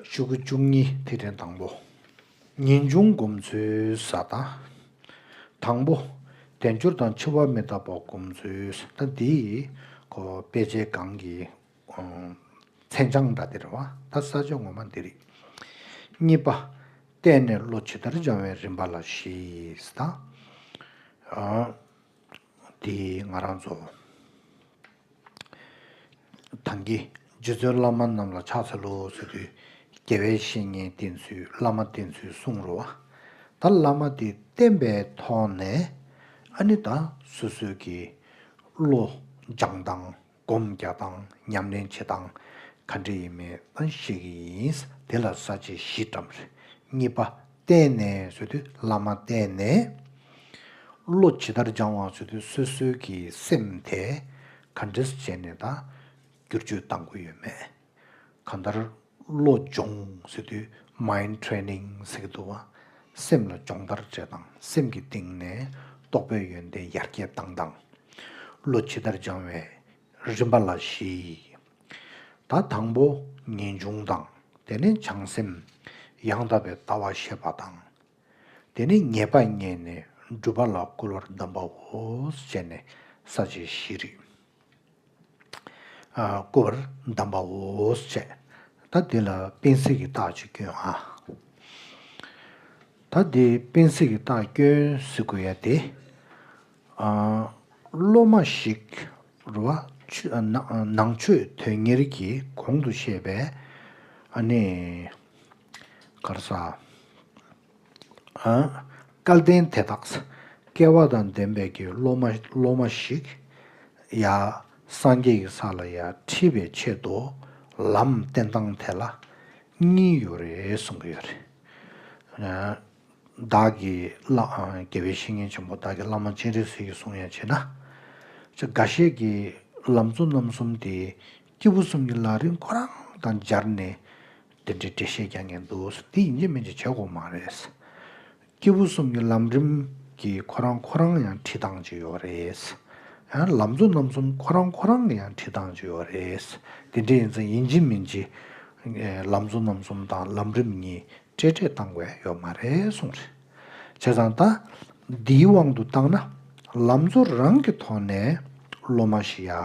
བཅུ་དགུ་བཅུ་གཉིས་ཐིག་ཕྲེང་དང་པོ། ངེས་འབྱུང་སྒོམ་ཚུལ་ས་དང། དང་པོ། དལ་འབྱོར་དང་འཆི་བ་མི་རྟག་པ་སྒོམ་ཚུལ་ས་དང་འདི་ཡི། དཔེ་ཆའི་སྒང་གི། མཚན་བྱང་འདྲ་སྟེར་བ་དང་ས་བཅད་ངོ་མ་འདི་རིགས། གཉིས་པ། བལྟས་ནས་བློ་ཇི་ལྟར་སྦྱང་བའི་རིམ་པ་ལ་བཞི་ས་དང། འདི་ང་རང་ཚོ་དང་གི་རྗེ་བཙུན་བླ་མ་རྣམས་ལ་ཕྱག་འཚལ་ལོ་ཟེར་དུས་རྒྱལ་བའི་བཤེས་གཉེན་བསྟེན་ཚུལ་བླ་མ་བསྟེན་ཚུལ་གསུངས་རོ། ད་བླ་མ་འདི་བསྟེན་པས་མཐོང་ནས་ཨ་ནི་ད་སོ་སོའི་གི་བློ་སྦྱངས་དང། སྒོམ་རྒྱག་དང་ཉམས་ལེན་བྱེད་སྟངས་ག་འདྲ་ཡིན་མིན་ཨང་ཤེས་ཀྱི་ཡིན། དེ་ལ་ས་བཅད་བཞི་བཀྲམ། གཉིས་པ། བསྟན་ནས་བཟོད་དུས་བླ་མ་བསྟེན་ནས། བློ་ཇི་ལྟར་སྦྱང་བ་བཟོད་དུས་སོ་སོའི་གི་སེམས་དེ་ག་འདྲས་བྱས་ནས་དང་བསྒྱུར་བཅོས་བཏང་དགོས་ཡོད་མེད། གང་ལྟར། བློ་སྦྱོང་ཟེར་དུས Mind Training ཟེར་གྱི་འདུག་བ། སེམས་ལ་སྦྱོང་བརྡར་བྱས་དང་སེམས་ཀྱི་སྟེང་ནས་རྟོགས་པའི་ཡོན་ཏན་ཡར་རྒྱས་བཏང་དང། བློ་ཇི་ལྟར་སྦྱང་བའི་རིམ་པ་ལ་གཞི། ད་དང་པོ་ངེས་འབྱུང་དང་དེ་ནས་བྱང་སེམས། ཡང་དག་པའི་ལྟ་བ་ཤེས་པ་དང་དེ་ནས་ཉེས་པ་བསྙེན་ནས་སྒྲུབ་པ་ལ་བསྐུལ་བར་གདམས་པའོ་བྱས་ནས་ས་བཅད་བཞིས་རིག། བསྐུལ་བར་གདམས་པའོ་བྱས། ད་འདི་ལ་སྤེན་གཟིགས་ཀྱི་རྟགས་ཅིག་སྐྱོན་ཨ། ད་འདི་སྤེན་གཟིགས་ཀྱི་རྟགས་སྐྱོན་གཟིགས་དགོས་ཡ་དེ། སློབ་མ་ཞིག་རུ་བ་ནང་ཆོས་དོན་གཉེར་གྱིས་གོང་དུ་བཤད་པའི། གར་ས། སྐལ་ལྡན་དེ་དག། སྐལ་བ་དང་ལྡན་པའི་གྱི་སློབ་མ་ཞིག། ཡ། སངས་རྒྱས་ཀྱི་ས་ལ་ཡ་འཁྲིད་པའི་ཆེད་དུ། ལམ་བསྟན་སྟངས་དེ་ལ། གཉིས་ཡོད་རེད་གསུང་གི་ཡོད་རེད། བདག་གི། རྒྱལ་བའི་བཤེས་གཉེན་ཆེན་པོ་བདག་གི་བླ་མ་སྤྱན་རས་གཟིགས་ཀྱི་གསུང་ཡང་བྱེད་ན། ཅི་འགའ་ཤས་ཀྱི། ལམ་གཙོ་རྣམ་གསུམ་དེ། སྐྱེས་བུ་གསུམ་གྱི་ལག་རིང་ཁོ་རང་དང་སྦྱར་ནས། དེ་འདྲའི་འགྲེལ་བཤད་རྒྱག་ངེས་འདུག་དེ་ཡིན་གཅིག་མིན་གཅིག་བྱེད་དགོས་མ་རེད། སྐྱེས་བུ་གསུམ་གྱི་ལམ་རིམ་གྱིས་ཁོ་རང་ཁོ་རང་ཡང་ཁྲིད་སྟངས་གཅིག་ཡོད་རེད། ཡང་ལམ་གཙོ་རྣམ་གསུམ་ཁོ་རང་ཁོ་རང་གི་ཡང་ཁྲིད་སྟངས་གཅིག་ཡོད་རེད། དེ་འདྲ་ཡིན་ཚེ་ཡིན་གཅིག་མིན་གཅིག་ལམ་གཙོ་རྣམ་གསུམ་དང་ལམ་རིམ་གཉིས་སྤྲེལ་སྤྲེལ་བཏང་དགོས་ཡོད་མ་རེད་གསུངས་རེད། བྱས་ཙང་ད་འདིའི་དབང་དུ་བཏང་ན་ལམ་གཙོ་རང་གི་ཐོག་ནས་སློབ་མ་ཞིག་ཡ་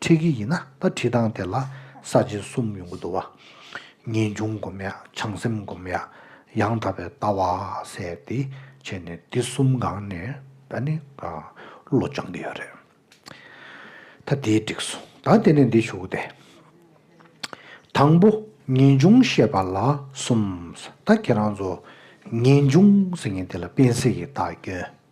ཁྲིད་ཀྱི་ཡིན་ན་ད་ཁྲིད་སྟངས་དེ་ལ་ས་བཅད་གསུམ་ཡོང་གི་འདུག་བ། ངེས་འབྱུང་སྒོམ་ཡ་བྱང་སེམས་སྒོམ་ཡ་ཡང་དག་པའི་ལྟ་བ་ཟེར་ཏེ་བྱས་ནས་འདི་གསུམ་སྒང་ནས་ད་ནི་བློ་སྦྱང་གི་ཡོད་རེད། ད་དེ་འགྲིག་སོང་ད་དེ་ནས་འདི་ཞུགས་ཏེ། དང་པོ་ངེས་འབྱུང་བཤད་པ་ལ་གསུམ་ཟེར་ད་ཁྱེད་རང་ཚོ་ངེས་འབྱུང་ཟེར་ངེས་དེ་ལ་སྤེན་ཚེ་ཡི་དྭགས་སྐྱོན།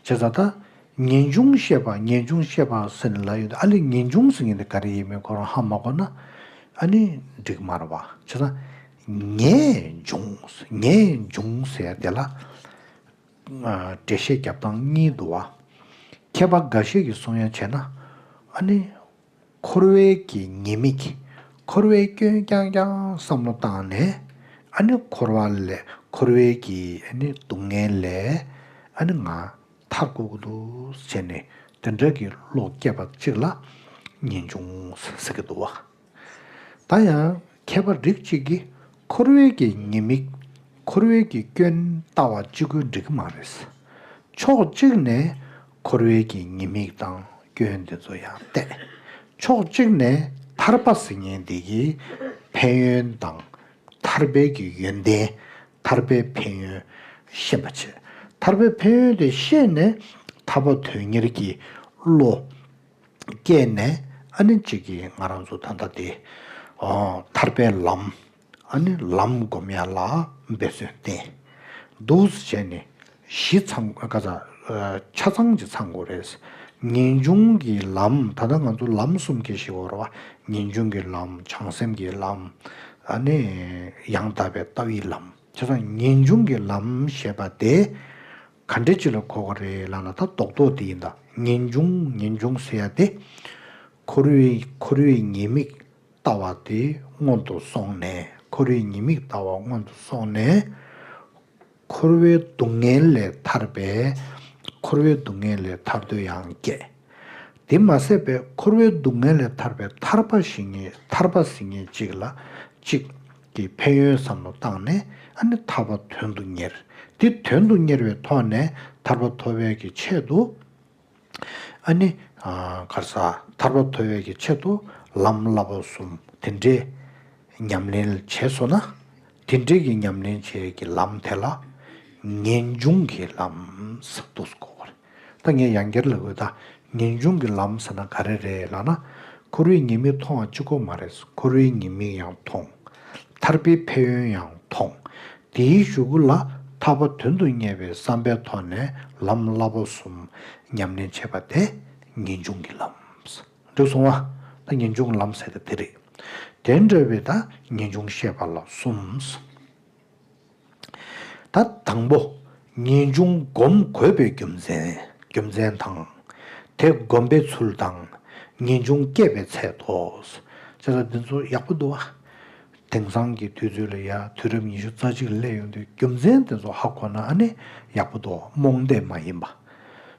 བྱས་ཙང་ད། ངེས་འབྱུང་བཤད་པ་ངེས་འབྱུང་བཤད་པ་ཟེར་ནས་ལབ་ཡོད་འདུག་ཨ་ལས་ངེས་འབྱུང་ཟེར་མཁན་དེ་ག་རེ་ཡིན་མིན་ཁོ་རང་ཧ་མ་གོ་ན་ཨ་ནི་འགྲིག་མ་རེད་བ། བྱས་ཙང། ངེས་འབྱུང་ངེས་འབྱུང་ཟེར་དེ་ལ། འགྲེལ་བཤད་རྒྱབ་སྟངས་གཉིས་འདུག་བ། མཁས་པ་འགའ་ཤས་ཀྱི་གསུང་དབྱངས་བྱས་ན་ཨ་ནི་འཁོར་བའི་གྱི་ཉེས་དམིགས། འཁོར་བའི་སྐྱོན་རྐྱང་རྐྱང་བསམ་བློ་བཏང་ནས། ཨ་ནི་འཁོར་བ་ལས་འཁོར་བའི་གྱི་ཨ་ནི་སྡུག་བསྔལ་ལས་ཨ་ནི་ང་ཐར་དགོས་ཀྱི་འདུག་བྱས་ནས་དེ་འདྲ་གྱི་བློ་སྐྱེས་པ་གཅིག་ལ་ངེས་འབྱུང་ཟེར་གྱི་འདུག་བ། ད་ཡང་མཁས་པ་རིགས་གཅིག་གིས་འཁོར་བའི་གྱི་ཉེས་དམིགས། འཁོར་བའི་གྱི་སྐྱོན་ལྟ་བ་གཅིག་ཁོ་འགྲིག་གི་མ་རེད། ཕྱོགས་གཅིག་ནས། འཁོར་བའི་གྱི་ཉེས་དམིགས་དང་སྐྱོན་འདི་ཚོ་ཡང་གཏད། ཕྱོགས་གཅིག་ནས་ཐར་པ་སིལ་སྙན་འདི་ཀྱི་ཕན་ཡོན་དང། ཐར་པའི་གྱི་ཡོན་ཏན། ཐར་པའི་ཕན་ཡོན། ཤེས་པ་བྱེད། ཐར་པའི་ཕན་ཡོན་དེ་ཤེས་ནས་ཐར་པ་དོན་གཉེར་གྱི་བློ། སྐྱེས་ནས་ཨ་ནི་གཅིག་གིས་ང་རང་ཚོ་ད་ལྟ་དེ། ཨོ། ཐར་པའི་ལམ། ལམ་སྒོམ་ཡར་ལ་འབད་བརྩོན་བརྟེན། རྡོ་བཟི་བྱས་ནས་གཞི་ཚང་ཆ་ཚང་གི་ཚང་དགོས་རེད། ངེས་འབྱུང་གི་ལམ་ད་ལྟ་ང་ཚོ་ལམ་གསུམ་གྱི་ཞེས་བོར་བ་ངེས་འབྱུང་གི་ལམ་བྱང་སེམས་ཀྱི་ལམ། ཡང་དག་པའི་ལྟ་བའི་ལམ་ཁྱེད་ཚོ་ངེས་འབྱུང་གི་ལམ་ཞེས་པ་དེ་ག་འདྲའི་སྤྱི་ལ་གོ་བ་རེད་ལབ་ན་ད་རྡོག་རྡོག་དེ་ཡིན་ད་ངེས་འབྱུང་ངེས་འབྱུང་ཟེར་ཡ་དེ། འཁོར་བའི་འཁོར་བའི་ཉེས་དམིགས་ལྟ་བ་དེ་སྔོན་དུ་སོང་ནས་འཁོར་བའི་ཉེས་དམིགས་ལྟ་བ་སྔོན་དུ་སོང་ནས། འཁོར་བའི་སྡུག་བསྔལ་ལས་ཐར་པས་འཁོར་བའི་སྡུག་བསྔལ་ལས་ཐར་འདོད་ཡང་བསྐྱེད། དེ་མ་ཟད་པས་འཁོར་བའི་སྡུག་བསྔལ་ལས་ཐར་པའི་ཐར་པ་ཞིག་ངེས་ཐར་པ་ཟིན་ངེས་གཅིག་ལ་གཅིག་གི་ཕན་ཡོན་བསམ་བློ་བཏང་ནས་ཨ་ནི་ཐར་པ་དོན་དུ་གཉེར། དེ་དོན་དུ་གཉེར་བའི་ཐོག་ནས་ཐར་པ་ཐོབ་བས་ཀྱི་ཆེད་དུ། ཨཱ་ནི། གར་ས་ཐར་པ་ཐོབ་ཡོད་ཀྱི་ཆེད་དུ་ལམ་བསླབ་པ་གསུམ་དེ་འདྲའི་ཉམས་ལེན་བྱས་སོ་ན། དེ་འདྲའི་གྱི་ཉམས་ལེན་བྱས་ཀྱི་ལམ་དེ་ལ་ངེས་འབྱུང་གི་ལམ་ཟེར་འདུག་གོ། ད་ངས་ཡང་བསྐྱར་ལབ་ཡོད་ད། ངེས་འབྱུང་གི་ལམ་ཟེར་ན་ག་རེ་རེད་ལགས་ན། འཁོར་བའི་ཉེས་དམིགས་མཐོང་བ་གཅིག་པོ་མ་རེད། འཁོར་བའི་ཉེས་དམིགས་ཡང་མཐོང། ཐར་པའི་ཕན་ཡོན་ཡང་མཐོང། དེའི་གཞུག་གུ་ལ་ཐར་པ་དོན་དུ་གཉེར་བའི་བསམ་པའི་ཐོག་ནས་ལམ་བསླབ་པ་གསུམ་ཉམས་ལེན་བྱེད་པ་དེ་ངེས་འབྱུང་གི་ལམ། འགྲིག་སོང་ང། ད་ངེས་འབྱུང་གི་ལམ་ཟེར་ཏེ་དེ་རེད། དེ་འདྲ་བའི་ད་ངེས་འབྱུང་བཤད་པ་ལ་གསུམ། ད་དང་པོ། ངེས་འབྱུང་བསྒོམ་དགོས་པའི་རྒྱུ་མཚན། རྒྱུ་མཚན་དང། དེ་བསྒོམ་པའི་ཚུལ་དང། ངེས་འབྱུང་སྐྱེད་པའི་ཚད་དོ། ཅེས་ལ་འདི་ཚོ་ཡག་པོ་འདུག་ཨ། དེང་སང་གི་དུས་ཚོད་ལ་ཡ་དུས་རབས་ཉི་ཤུ་རྩ་གཅིག་ལ་སླེབས་ཡོང་དུས་རྒྱུ་མཚན་དེ་ཚོ་ཧ་གོ་ན་ཨ་ནེ་ཡག་པོ་འདུག་རྨོངས་དད་མ་ཡིན་པ།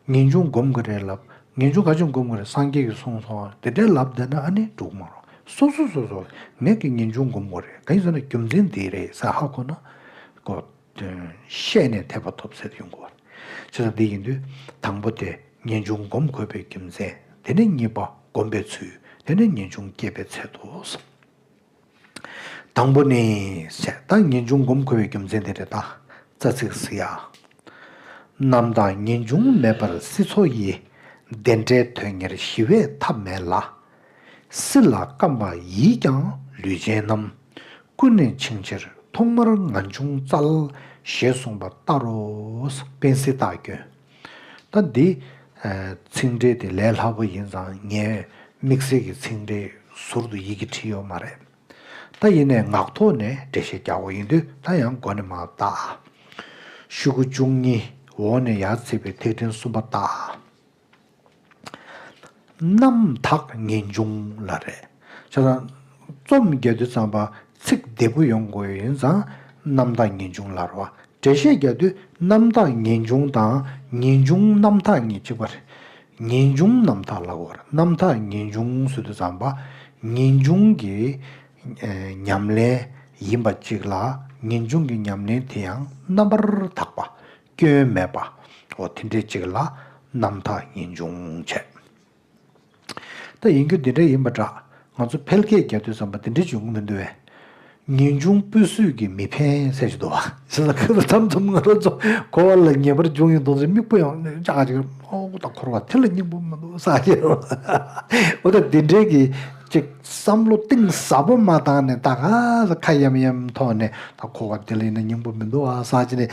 ངེས་འབྱུང་སྒོམ་གི་རེད་ལབ་ངེས་འབྱུང་ག་ཅིག་སྒོམ་གི་རེད་སངས་རྒྱས་ཀྱི་གསུངས་སོང་དེ་འདྲས་ལབ་བསྡད་ན་ཨ་ནེ་འགྲུག་མ་རུང་སོ་སོ་སོ་སོ་ངེས་ཀྱི་ངེས་འབྱུང་སྒོམ་དགོས་རེད་ག་ཡིན་ཟེར་ན་རྒྱུ་མཚན་འདི་རེད་ཟེར་ཧ་གོ་ན་གོ། ཤེས་ནས་དད་པ་ཐོབ་ཟེར་ཡོང་དགོས་པ་རེད་བྱས་ཙང་འདི་ཡིན་དུས་དང་པོ་དེ་ངེས་འབྱུང་སྒོམ་དགོས་པའི་རྒྱུ་མཚན་དེ་ནས་གཉིས་པ་སྒོམ་པའི་ཚུལ་དེ་ནས་ངེས་འབྱུང་སྐྱེད་པའི་ཚད་དུ་སོང། དང་པོ་ནི། བདག་ཉིད་འབྱུང་བསྒོམ་འཁོར་བའི་རྒྱུ་མཚན་དེ་རེ་ད་རྩ་ཚིག་ཟེར། རྣམ་དག་ངེས་འབྱུང་མེད་པར་སྲིད་མཚོ་ཡི། བདེ་འབྲས་དོན་གཉེར་ཞི་བས་ཐབས་མེད་ལ། སྲིད་ལ་བརྐམ་པ་ཡིས་ཀྱང་ལུས་ཅན་རྣམས། ཀུན་ནས་འཆིང་ཕྱིར་ཐོག་མར་ང་འབྱུང་རྩལ། ཞེས་གསུངས་པ་ལྟར་རོ། དཔལ་སྲིད་རྟགས་ཀྱི། ད་འདི་ཚིག་འགྲེལ་དེ་ལས་ལྷག་པ་ཡིན་ཙང་ངས་དམིགས་བསལ་གྱི་ཚིག་འགྲེལ་ཟུར་དུ་ཡི་གེ་བྲིས་ཡོད་མ་རེད། ད་ཡིན་ནས་ངག་ཐོག་ནས་འགྲེལ་བཤད་རྒྱག་དགོས་ཡིན་དུས་ད་ཡང་མགོ་ནས་མ་བཏགས་ཨ། ཤུག་གུ་བཅུ་གཉིས་འོག་ནས་ཡར་བརྩིས་པའི་ཐིག་ཕྲེང་གསུམ་པ་བཏགས་ཨ། རྣམ་དག་ངེས་འབྱུང་ལ་རེ། རྩོམ་རྒྱ་དུས་གཙང་པ་ཚིག་བདེ་པོ་ཡོང་དགོས་ཡིན་ཙང་རྣམ་དག་ངེས་འབྱུང་ལར་བ། འགྲེལ་བཤད་རྒྱ་དུས་རྣམ་དག་ངེས་འབྱུང་དང་ངེས་འབྱུང་རྣམ་དག་གཉིས་གཅིག་པ་རེད། ངེས་འབྱུང་རྣམ་དག་ལ་གོར་རྣམ་དག་ངེས་འབྱུང་སུ་དུས་གཙང་པ་ངེས་འབྱུང་གི་ཉམས་ལེན་ཡིན་པ་གཅིག་ལ་ངེས་འབྱུང་གི་ཉམས་ལེན་དེ་ཡང་རྣམ་པར་དག་པ་སྐྱོན་མེད་པ། འོ་དེ་འདྲའི་ཅིག་ལ་རྣམ་དག་ངེས་འབྱུང་བྱས། ད་ཡིན་རྒྱུ་འདི་འདྲ་ཡིན་པ་འདྲ། ང་ཚོ་ཕལ་སྐད་རྒྱ་མདུད་ཙམ་པ་འདི་འདྲའི་འབྱུང་གི་མི་འདུག་བས། ངེས་འབྱུང་སྤུས་སུས་ཀྱིས་མི་ཕན་གསལ་བྱེད་དོ། ཞེས་ལ་ཁོས་ལ་ཐམས་ཙམ་ང་རང་ཚོ་གོ་བ་ལ་ངེས་པར་འབྱུང་ཡིན་མདོག་ཚོའི་མིག་སྤུ་ཡང་ཅག་ཅག་ཅིག་ཨོག་ཏུ་འཁོར་བ་དེ་ལ་སྙིང་པོ་མི་འདུག་བསམ་གྱི། འོ་ད་འདི་འདྲའི་གི་ཅིག་བསམ་བློ་གཏིང་ཟབ་པོ་མ་བཏང་ནས་ད་ག་ས་ཁ་ཡམ་ཡམ་ཐོག་ནས་ད་གོ་བ་དེ་ལ་ཡིན་ན་སྙིང་པོ་མི་འདུག་བསམ་གྱི་ནས་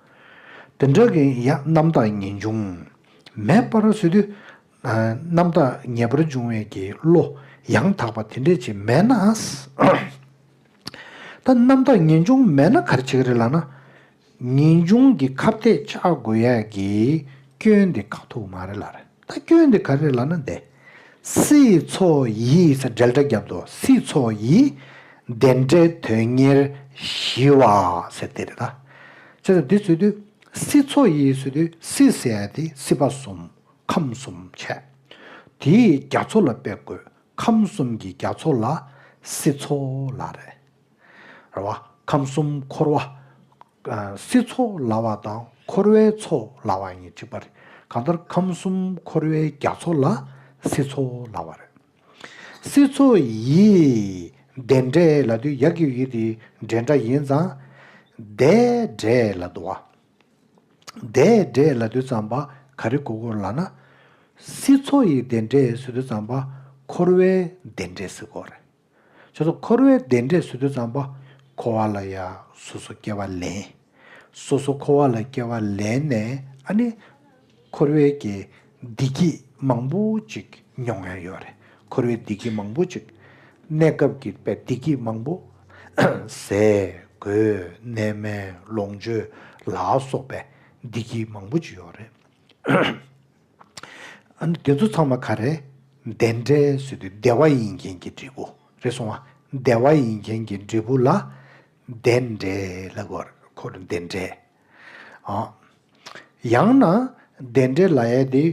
དེ་འདྲ་གི་ཡང་རྣམ་དག་ངེས་འབྱུང། མེད་པར་བཟོད་དུས་རྣམ་དག་ངེས་པར་འབྱུང་བས་ཀྱི་བློ་ཡང་དག་པ་དེ་འདྲས་ཅིག་མེད་ན། ད་རྣམ་དག་ངེས་འབྱུང་མེད་ན་གར་བྱེད་རེད་ལགས་ན། ངེས་འབྱུང་གི་ཁ་བརྡས་ཆགས་དགོས་ཡས་ཀྱི་སྐྱོན་དེ་ཁག་ཐུག་མ་རེད་ལགས་རེད། ད་སྐྱོན་དེ་ག་རེ་ལ་ན་བདེ། སྲིད་མཚོ་ཡིས་ས་འབྲེལ་སྒྲ་བརྒྱབ་འདུག་སྲིད་མཚོ་ཡིས་བདེ་འབྲས་དོན་གཉེར་ཞི་བ་ཟེར་དེ་རེད་ད། བྱས་ཙང་འདི་ཚུད་དུས་སྲིད་མཚོ་ཡིས་ཚུད་དུས་སྲིད་ཟེར་ཡ་དེ་སྲིད་པ་གསུམ་ཁམས་གསུམ་བྱས། དེས་རྒྱ་མཚོ་ལ་དཔེ་དགོས་ཁམས་གསུམ་གྱི་རྒྱ་མཚོ་ལ་སྲིད་མཚོ་ལ་རེད། རེད་བ། ཁམས་གསུམ་འཁོར་བ། སྲིད་ཚོགས་ལ་བ་དང་འཁོར་བའི་ཚོགས་ལ་བ་གཉིས་གཅིག་པ་རེད། གང་ལྟར་ཁམས་གསུམ་འཁོར་བའི་རྒྱ་མཚོ་ལ་སྲིད་ཚོགས་ལ་བ་རེད། སྲིད་ཚོགས་ཡིས་བདེ་འབྲས་ལ་དུས་ཡག་གི་ཡོད་དེ་འབྲས་འདྲ་ཡིན་ཙང་བདེ་འབྲས་ལ་དུ་བ། བདེ་འབྲས་ལ་དུས་ཙམ་པ་ག་རེ་དགོས་སྐོར་ལ་ན། སྲིད་ཚོགས་ཡི་བདེ་འབྲས་སུ་དུས་ཙམ་པ་འཁོར་བའི་བདེ་འབྲས་སྲིད་སྐོར་རེད། ཆོས་སོ་འཁོར་བའི་བདེ་འབྲས་སུ་དུ་ཙམ་པ། འཁོར་བ་ལ་ཡང་སོ་སོ་སྐྱེ་བ་ལེན། སོ་སོ་འཁོར་བ་ལ་སྐྱེ་བ་ལེན་ནས་ཨ་ནི། འཁོར་བའི་དགེ་བདེ་སྐྱིད་མང་པོ་ཅིག་མྱོང་ཡང་ཡོད་རེད། འཁོར་བའི་བདེ་སྐྱིད་མང་པོ་ཅིག། གནས་སྐབས་ཀྱི་བདེ་སྐྱིད་མང་པོ། ཟས་གོས་གནས་མལ་ལོངས་སྤྱོད་ལ་སོགས་པའི་བདེ་སྐྱིད་མང་པོ་ཅིག་ཡོད་རེད། འདི་ཚོ་ཚང་མ་ག་རེ། བདེ་འབྲས་སུ་དུས་བདེ་བ་ཡིན་མཁན་གྱི་འབྲས་བུ་རེད་སོང་བ། བདེ་བ་ཡིན་མཁན་གྱི་འབྲས་བུ་ལ། བདེ་འབྲས་ལ་གོར་གོར་བདེ་འབྲས། ཨ། ཡང་ན། བདེ་འབྲས་ལ་ཡས་དེ།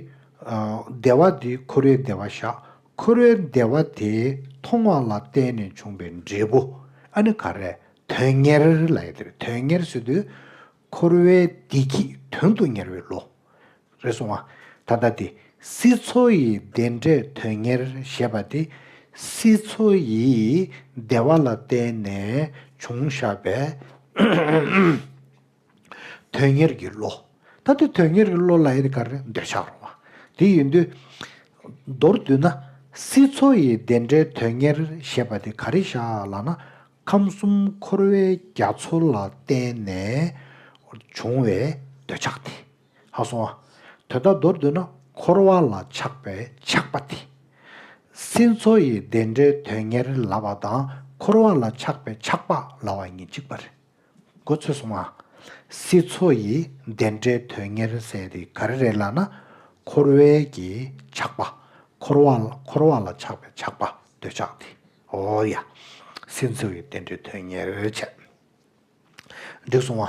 བདེ་བ་དེ་ཁོ་རེའི་བདེ་བ་བཞག་ཁོ་རེའི་བདེ་བ་དེའི་མཐོང་བ་ལ་བརྟེན་ནས་བྱུང་བའི་འབྲས་བུ་ཨ་ནི་ག་རེ། དོན་གཉེར་ལ་ཡས་དེ་དོན་གཉེར་སུ་དུས། འཁོར་བའི་བདེ་སྐྱིད་དོན་དུ་གཉེར་བའི་ལོ། རེ་ཟུང་བ། ད་ལྟ་དེ། སྲིད་མཚོ་ཡི་བདེ་འབྲས་དོན་གཉེར་ཞེས་པ་དེ། སྲིད་མཚོ་ཡི་བདེ་བ་ལ་བརྟེན་ནས་བྱུང་བཞག་པའི། དོན་གཉེར་གྱི་ལོ། ད་ལྟའི་དོན་གཉེར་གྱི་ལོ་ལ་ཡི་གེར་འདོད་ཆགས་རུང་བ། དེ་ཡིན་དུས། མདོར་བསྡུས་ན། སྲིད་མཚོ་ཡི་བདེ་འབྲས་དོན་གཉེར་ཞེས་པ་དེ་ག་རེ་བཞག་ལགས་ན། ཁམས་གསུམ་འཁོར་བའི་རྒྱ་མཚོ་ལ་བརྟེན་ནས་བྱུང་བའི་འདོད་ཆགས་དེ་ཧ་སོང་བ། དོན་དག་མདོར་བསྡུ་ན་འཁོར་བ་ལ་ཆགས་པའི་ཆགས་པ་དེ། སྲིད་མཚོ་ཡི་བདེ་འབྲས་དོན་གཉེར་ལ་བ་དང་འཁོར་བ་ལ་ཆགས་པའི་ཆགས་པ་ལ་བ་གཉིས་གཅིག་པ་རེད་གོ་ཚོད་སོང་ངམ། སྲིད་མཚོ་ཡི་བདེ་འབྲས་དོན་གཉེར་ཟེར་དེ་ག་རེ་རེད་ལ་ན། འཁོར་བའི་གྱི་ཆགས་པ། འཁོར་བ་ལ་ཆགས་པའི་ཆགས་པ་འདོད་ཆགས་དེ། ཨོ་ཡ། སེམས་འཚོལ་བའི་བསྟན་འགྲོའི་དོན་གཉེར་བྱས། འགྲིག་སོང་བ།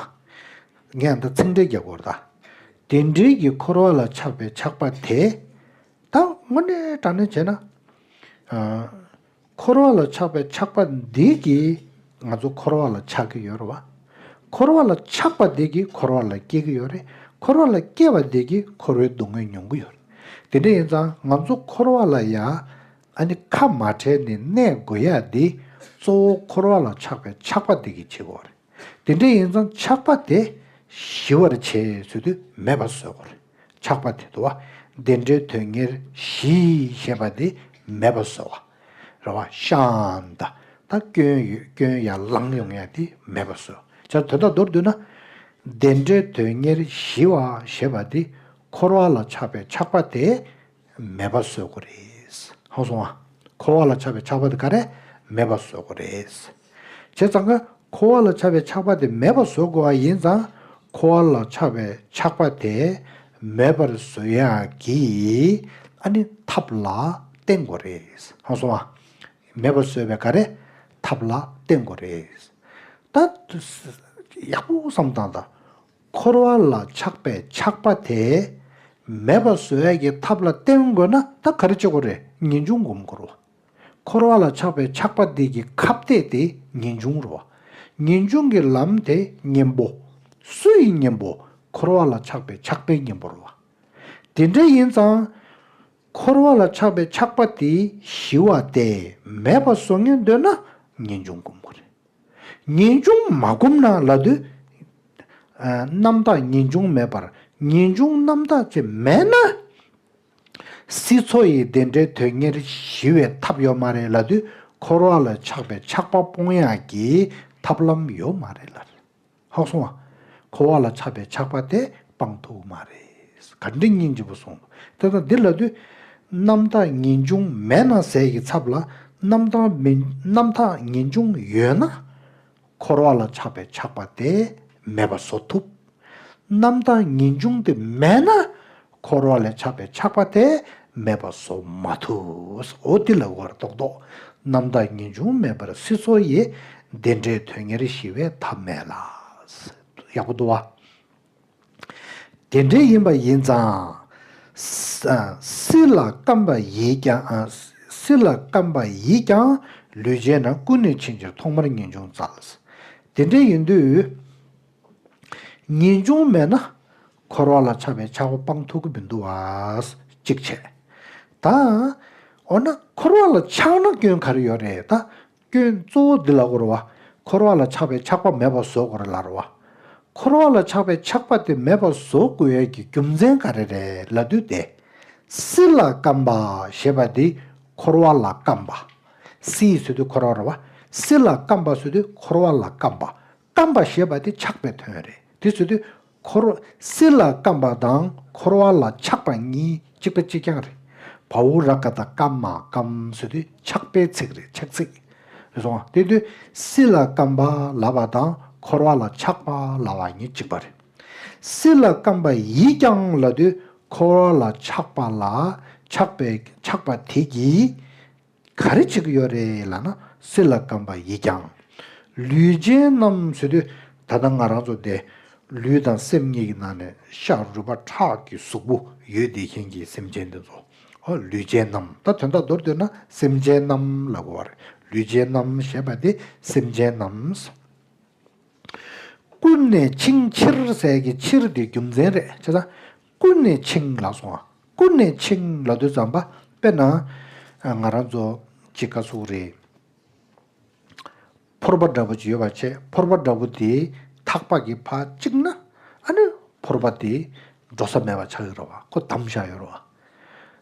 ངས་ད་ཚིག་འགྲེལ་རྒྱག་དགོས་ད། དེ་འབྲེལ་གྱི་འཁོར་བ་ལ་ཆགས་པའི་ཆགས་པ་དེ། ད་དངོས་གནས་དྲང་གནས་བྱས་ན། འཁོར་བ་ལ་ཆགས་པའི་ཆགས་པ་འདི་གིས་ང་ཚོ་འཁོར་བ་ལ་ཆགས་ཀྱི་ཡོད་རེད་བ། འཁོར་བ་ལ་ཆགས་པ་འདི་གིས་འཁོར་བ་ལ་སྐྱེ་གི་ཡོད་རེད། འཁོར་བ་ལ་སྐྱེ་བ་འདི་གིས་འཁོར་བའི་སྡུག་བསྔལ་མྱོང་གི་ཡོད་རེད། དེ་འདྲ་ཡིན་ཙང་ང་ཚོ་འཁོར་བ་ལ་ཡ། ཨ་ནི་ཁ་མ་བྲལ་ནི་གནས་དགོས་ཡ་འདི་གཙོ་བོ་འཁོར་བ་ལ་ཆགས་པའི་ཆགས་པ་དེ་གི་བྱེད་དགོས་རེད་དེ་འདྲ་ཡིན་ཙང་ཆགས་པ་དེ་ཞི་བར་བྱེད་ཚུལ་དུ་མེད་པ་བཟོས་དགོས་རེད་ཆགས་པ་དེ་དུ་བ་འདི་འདྲའི་དོན་གཉེར་ཞི་ཞེས་པ་དེ་མེད་པ་བཟོས་བ་རེད་བ་ཤཱནྟ་དང་སྐྱོན་ཡོད་སྐྱོན་ཡ་ལང་ཡོང་ཡ་དེ་མེད་པ་བཟོས་བྱ་དོན་དག་མདོར་བསྡུས་ན་འདི་འདྲའི་དོན་གཉེར་ཞི་བ་ཞེས་པ་དེ་འཁོར་བ་ལ་ཆགས་པའི་ཆགས་པ་དེ་མེད་པ་བཟོད་དགོས་རེད། ཧང་སོང་ཨ། འཁོར་བ་ལ་ཆགས་པའི་ཆགས་པ་དེ་ག་རེ། མེད་པ་བཟོད་དགོས་རེད། བྱས་ཙང་ཀ། འཁོར་བ་ལ་ཆགས་པའི་ཆགས་པ་དེ་མེད་པ་བཟོད་དགོས་པ་ཡིན་ཙང། འཁོར་བ་ལ་ཆགས་པའི་ཆགས་པ་དེ། མེད་པར་བཟོད་ཡ་གི། ཨ་ནི་ཐབས་ལ་བརྟེན་དགོས་རེད། ཧང་སོང་ཨ། མེད་པ་བཟོད་པའི་ག་རེ། ཐབས་ལ་བརྟེན་དགོས་རེད། ད། ཡག་པོ་བསམ་དང་ད། འཁོར་བ་ལ་ཆགས་པའི་ཆགས་པ་དེ་མེད་པ་བཟོ་ཡ་གི་ཐབས་ལ་བརྟེན་དགོས་ན་ད་ག་རེ་བྱེད་དགོས་རེད་ངེས་འབྱུང་སྒོམ་དགོས་རོ། འཁོར་བ་ལ་ཆགས་པའི་ཆགས་པ་དེ་གི་ཁ་བཏད་དེ་ངེས་འབྱུང་རོ། ངེས་འབྱུང་གི་ལམ་དེ་གཉེན་པོ། སུ་ཡི་གཉེན་པོ་འཁོར་བ་ལ་ཆགས་པའི་ཆགས་པའི་གཉེན་པོ་རོ། དེ་འདྲ་ཡིན་ཙང། འཁོར་བ་ལ་ཆགས་པའི་ཆགས་པ་དེ་ཞི་བ་དེ་མེད་པ་བཟོ་ངེས་འདོད་ན་ངེས་འབྱུང་སྒོམ་དགོས་རེད། ངེས་འབྱུང་མ་བསྒོམས་ན་ལ་དུས། རྣམ་དག་ངེས་འབྱུང་མེད་པར་ངེས་འབྱུང་རྣམ་དག་ཅེས་སྨྲས་ན། སྲིད་མཚོ་ཡི་བདེ་འབྲས་དོན་གཉེར་ཞི་བའི་ཐབས་ཡོད་མ་རེད་ལ་དུས་འཁོར་བ་ལ་ཆགས་པའི་ཆགས་པ་སྤོང་ཡག་གི་ཐབས་ལམ་ཡོད་མ་རེད་ལ། ལྷག་སོང་བ། འཁོར་བ་ལ་ཆགས་པའི་ཆགས་པ་དེ་སྤང་ཐུབ་མ་རེད། གར་འགྲིག་སྙིང་རྗེ་བོ་གསུངས་འདུག་དེ་དང་འདི་ལ་དུས། རྣམ་དག་ངེས་འབྱུང་མེད་ན་ཟས་ཀྱི་ཚབ་ལ། རྣམ་རྣམ་དག་ངེས་འབྱུང་ཡོད་ན། འཁོར་བ་ལ་ཆགས་པའི་ཆགས་པ་དེ་མེད་པ་བཟོ་ཐུབ། རྣམ་དག་ངེས་འབྱུང་དེ་མེད་ན། འཁོར་བ་ལས་ཆགས་པའི་ཆགས་པ་དེ་མེད་པ་སོ་མ་ཐུགས། འོ་དེ་ལ་བར་དོགས་དོགས། རྣམ་དག་ངེས་འབྱུང་མེད་པར་སྲིད་མཚོ་ཡི། བདེ་འབྲས་དོན་གཉེར་ཞི་བའི་ཐབས་མེད་ལ། ཡག་པོ་འདུག་བ། དེ་འདྲའི་ཡིན་པ་ཡིན་ཙང། སྲིད་ལ་སྐམ་པ་ཡིས་ཀྱང། སྲིད་ལ་སྐམ་པ་ཡིས་ཀྱང། ལུས་བྱས་ན་ཀུན་ནས་ཕྱིན་ཅིང་ཐོག་མར་ངེས་འབྱུང་རྩལ། དེ་འདྲའི་ཡིན་དུས། ངེས་འབྱུང་མེད་ན། འཁོར་བ་ལ་འཆགས་པའི་ཆགས་སྒོ་སྤང་ཐུབ་ཀྱི་མི་འདུག་བ། གཅིག་བྱས། ད། འོ་ན་འཁོར་བ་ལ་ཆགས་ན་སྐྱོན་ག་རེ་ཡོད་རེད་ད། སྐྱོན་གཙོ་བོ་འདི་ལ་དབོར་བ། འཁོར་བ་ལ་ཆགས་པའི་ཆགས་པ་མེད་པར་བཟོ་དགོས་རེད་ལར་བ། འཁོར་བ་ལ་ཆགས་པའི་ཆགས་པ་དེ་མེད་པར་བཟོ་དགོས་ཡས་ཀྱི་རྒྱུ་མཚན་ག་རེ་རེད་ལ་བསྡུས་ཏེ། སྲིད་ལ་སྐམ་པ་ཞེས་པ་འདི་འཁོར་བ་ལ་སྐམ་པ། སྲིད་ཟེར་དུས་འཁོར་བ་རེད་བ། སྲིད་ལ་སྐམ་པ་ཟེར་དུས་འཁོར་བ་ལ་སྐམ་པ། བསྐམས་པ་ཞེས་པ་དེ་ཆགས་པའི་དོན་རེད་དེ་ཚོལ་ཏེ། འཁོར་བ་སྲིད་ལ་བསྐམས་པ་དང་འཁོར་བ་ལ་ཆགས་པ་གཉིས་གཅིག་པ་གཅིག་རྐྱང་རེད། བྷཱུ་ར་ཀ་ད་བསྐམས་མ་བསྐམས་ཟེར་དུས་ཆགས་པའི་ཚིག་རེད་ཆགས་ཚིག་རེད་སོང་ང་དེ་དུས་སྲིད་ལ་བསྐམས་པ་ལ་བ་དང་འཁོར་བ་ལ་ཆགས་པ་ལ་བ་གཉིས་གཅིག་པ་རེད། སྲིད་ལ་བསྐམས་པ་ཡིད་རྐྱང་ལ་དུས་འཁོར་བ་ལ་ཆགས་པ་ལ་ཆགས་པའི་ཆགས་པ་དེ་གྱིས་ག་རེ་བྱེད་ཀྱི་ཡོད་རེད་ལགས་ན་སེ་ལ་སྐམ་པ་ཡིད་ཀྱང། ལུས་ཅན་རྣམས་ཟེར་དུས་ད་ལྟ་ང་རང་ཚོ་འདི་ལུས་དང་སེམས་གཉིས་ཀྱི་ནང་ནས་ཤ་རུས་པ་ཁྲག་གི་གཟུགས་པོ་ཡོད་བདེ་ཞེན་གྱི་སེམས་ཅན་འདི་ཚོ། ཨོ་ལུས་ཅན་རྣམས་ད་དོན་དག་མདོར་བསྡུས་ན་སེམས་ཅན་རྣམས་ལ་གོ་བ་རེད་ལུས་ཅན་རྣམས་ཞེས་པ་འདི་སེམས་ཅན་རྣམས། ཀུན་ནས་འཆིང་ཕྱིར་ཟས་ཀྱི་ཕྱིར་འདི་རྒྱུ་མཚན་རེད་ཆ་ཚང། ཀུན་ནས་འཆིང་ལ་སོང་བ། ཀུན་ནས་འཆིང་ལ་འདོད་བརྩམས་པ་དཔེར་ན། ང་རང་ཚོ་གཅིག་དགའ་སུག་རེད། ཕོར་པ་འདྲ་པོ་ཅིག་ཡོད་པར་བྱས་ཕོར་པ་འདྲ་པོ་དེའི་ཐག་པ་གི་བར་གཅིག་ན་ཨ་ནུ་ཕོར་པ་དེ་འགྲོ་ས་མེད་པར་ཆགས་ཡོད་ར་བ་ཁོ་བསྡམས་བཞག་ཡོད་ར་བ།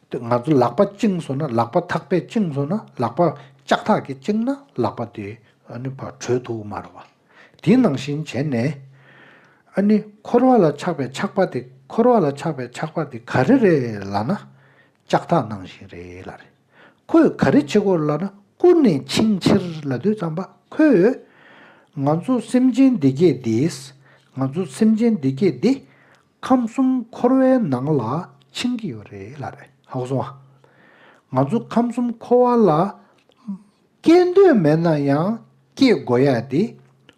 དེ་ང་ཚོ་ལག་པ་བཅིངས་སོང་ན་ལག་པ་ཐག་པས་བཅིངས་སོང་ན་ལག་པ་ལྕགས་ཐག་གིས་བཅིངས་ན་ལག་པ་དེ་ཨ་ནུ་བར་བྲོས་ཐུབ་མ་ར་བ། དེ་ནང་བཞིན་བྱས་ནས། ཨ་ནི་འཁོར་བ་ལ་ཆགས་པའི་ཆགས་པ་དེ་འཁོར་བ་ལ་ཆགས་པའི་ཆགས་པ་དེ་ག་རེ་རེད་ལ་ན། ལྕགས་ཐག་ནང་བཞིན་རེད་ལ་རེད། ཁོས་ག་རེ་བྱེད་དགོས་ལ་ན་ཀུན་ནས་འཆིང་ཕྱིར་ལ་དུས་ཙམ་པ་ཁོས། ང་ཚོ་སེམས་ཅན་སྡེ་བརྒྱད་འདིས། ང་ཚོ་སེམས་ཅན་སྡེ་བརྒྱད་འདི། ཁམས་གསུམ་འཁོར་བའི་ནང་ལ་འཆིང་གི་ཡོད་རེད་ལ་རེད། ཧ་གོ་སོང་ཨ། ང་ཚོ་ཁམས་གསུམ་འཁོར་བ་ལ། སྐྱེ་འདོད་མེད་ན་ཡང་སྐྱེ་དགོས་ཡ་དེ།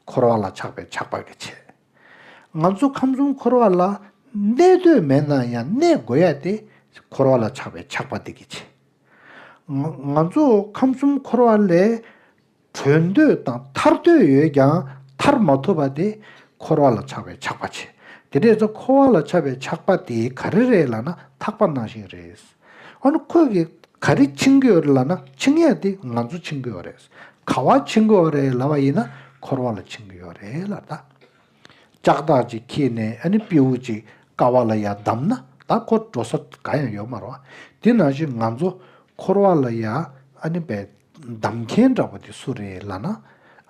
འཁོར་བ་ལ་ཆགས་པའི་ཆགས་པ་གི་ཆེད། ང་ཚོ་ཁམས་གསུམ་འཁོར་བ་ལ་གནས་འདོད་མེད་ན་ཡང་གནས་དགོས་ཡ་དེ། འཁོར་བ་ལ་ཆགས་པའི་ཆགས་པ་དེ་གི་ཆེད། ང་ཚོ་ཁམས་གསུམ་འཁོར་བ་ལས་གྲོལ་འདོད་དང་ཐར་འདོད་ཡོད་ཀྱང་ཐར་མ་ཐུབ་པ་དེ། འཁོར་བ་ལ་ཆགས་པའི་ཆགས་པ་ཆེད། དེ་འདྲས་ཚོ་འཁོར་བ་ལ་ཆགས་པའི་ཆགས་པ་དེ་ག་རེ་རེད་ལ་ན་ཐག་པ་ནང་བཞིན་རེད། འོ་ན་ཁོས་གིས་ག་རེ་འཆིང་གི་ཡོད་རེད་ལབ་ན་འཆིང་ཡས་དེ་ང་ཚོ་འཆིང་གི་ཡོད་རེད། ག་བ་འཆིང་གི་ཡོད་རེད་ལབ་པ་ཡིན་ན་འཁོར་བ་ལ་འཆིང་གི་ཡོད་རེད་ལབ་ད། ལྕགས་ཐག་ཅིག་འཁྱིལ་ནས་ཨ་ནི་སྤེའུ་ཅིག་ཀ་བ་ལ་ཡ་བསྡམས་ན་ད་ཁོ་འགྲོ་ས་ག་ཡང་ཡོད་མ་རོ། དེ་ནང་བཞིན་ང་ཚོ་འཁོར་བ་ལ་ཡ་ཨ་ནི་བསྡམས་མཁན་འདྲ་བོ་དེ་སུ་རེད་ལབ་ན་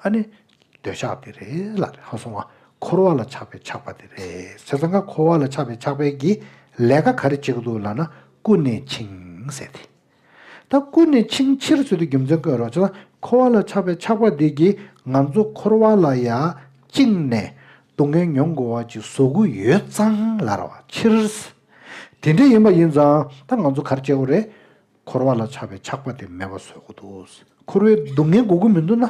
ཨ་ནི་འདོད་ཆགས་དེ་རེད་ལ་རེད་ཧ་སོང་བ། འཁོར་བ་ལ་ཆགས་པའི་ཆགས་པ་དེ་རེད་ཟེར་ས་འགའ་འཁོར་བ་ལ་ཆགས་པའི་ཆགས་པའི་གི་ལས་ཀ་ག་རེ་བྱེད་ཀི་འདུག་ལ་ན་ཀུན་ནས་འཆིང་ཟེར་དེ། ད་ཀུན་ནས་འཆིང་ཕྱིར་ཚུལ་དུ་རྒྱུ་མཚན་བཀོད་རོགས་བྱས་ན་འཁོར་བ་ལ་ཆགས་པའི་ཆགས་པ་དེ་གི་ང་ཚོ་འཁོར་བ་ལ་ཡ་བཅིངས་ནས་སྡུག་བསྔལ་མྱོང་དགོས་བ་གི་ཟོ་གུ་ཡོད་ཙང་ལ་ར་བ་ཕྱིར། དེ་འདྲ་ཡིན་པ་ཡིན་ཙང་ད་ང་ཚོ་ག་རེ་བྱེད་དགོས་རེད། འཁོར་བ་ལ་ཆགས་པའི་ཆགས་པ་དེ་མེད་པར་བཟོད་དགོས་འདུག་འཁོར་བའི་སྡུག་བསྔལ་དགོས་ཀྱི་མི་འདུག་ན།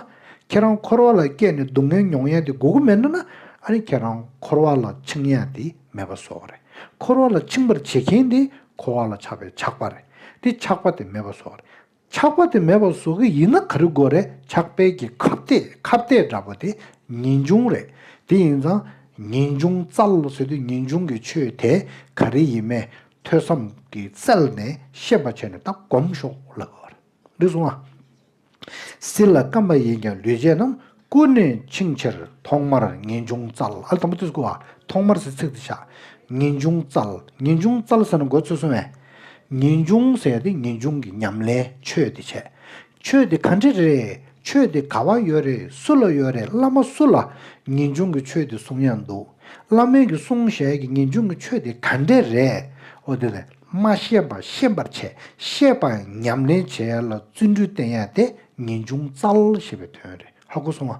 ཁྱེད་རང་འཁོར་བ་ལ་སྐྱེས་ནས་སྡུག་བསྔལ་མྱོང་ཡས་དེ་དགོས་ཀྱི་མེད་འདུག་ན། ཨ་ནི་ཁྱེད་རང་འཁོར་བ་ལ་འཆིང་ཡས་དེ་མེད་པར་བཟོད་དགོས་རེད། འཁོར་བ་ལ་འཆིང་པར་བྱེད་མཁན་དེ་འཁོར་བ་ལ་ཆགས་པའི་ཆགས་པ་རེད། དེ་ཆགས་པ་དེ་མེད་པར་བཟོད་རེད། ཆགས་པ་དེ་མེད་པར་བཟོད་ཀྱི་ཡིན་ན་ག་རེ་དགོས་རེད་ཆགས་པའི་གྱི་ཁ་བཏད་ཁ་བཏད་འདྲ་པོ་དེ་ངེས་འབྱུང་རེད། དེ་ཡིན་ཙང་ངེས་འབྱུང་རྩལ་བཟོད་དུས་ངེས་འབྱུང་གི་ཆོས་དེ་ག་རེ་ཡིན་མེད་ཐོས་བསམ་གྱི་རྩལ་ནས་ཤེས་པར་བྱས་ནས་ད་གོམས་ཤོག་ལབ། འདི་གསུངས་ཨ། སྲིད་ལ་སྐམ་པ་ཡིན་ཀྱང་ལུས་ཅན་རྣམས་ཀུན་ནས་འཆིང་ཕྱིར་ཐོག་མར་ངེས་འབྱུང་རྩལ་ཨ་དང་པོ་ཏི་སྐུ་ཨ་ཐོག་མར་ཟེར་ཚིག་འདི་ཆགས། ངེས་འབྱུང་རྩལ་ངེས་འབྱུང་རྩལ་ཟེར་ན་འགོ་ཚུགས་སོང་བས། ངེས་འབྱུང་ཟེར་ཏེ་ངེས་འབྱུང་གི་ཉམས་ལེན་ཆོས་འདི་བྱས། ཆོས་འདི་ག་འདྲི་རེད་ཆོས་འདི་ག་བ་ཡོད་རེད་སུ་ལ་ཡོད་རེད་བླ་མ་སུ་ལ་ངེས་འབྱུང་གི་ཆོས་འདི་གསུང་ཡག་འདུག་བླ་མའི་གི་གསུང་ཞལ་གི་ངེས་འབྱུང་གི་ཆོས་འདི་ག་འདྲི་རེད་འོ་དེ་ལས་མ་ཤེས་པ་ཤེས་པར་བྱས་ཤེས་པ་ཉམས་ལེན་བྱས་ལ་བརྩོན་འགྲུས་བསྟེན་ཡག་དེ་ངེས་འབྱུང་རྩལ་ཞེས་པའི་དོན་རེད་ཧ་གོ་སོང་ཨ།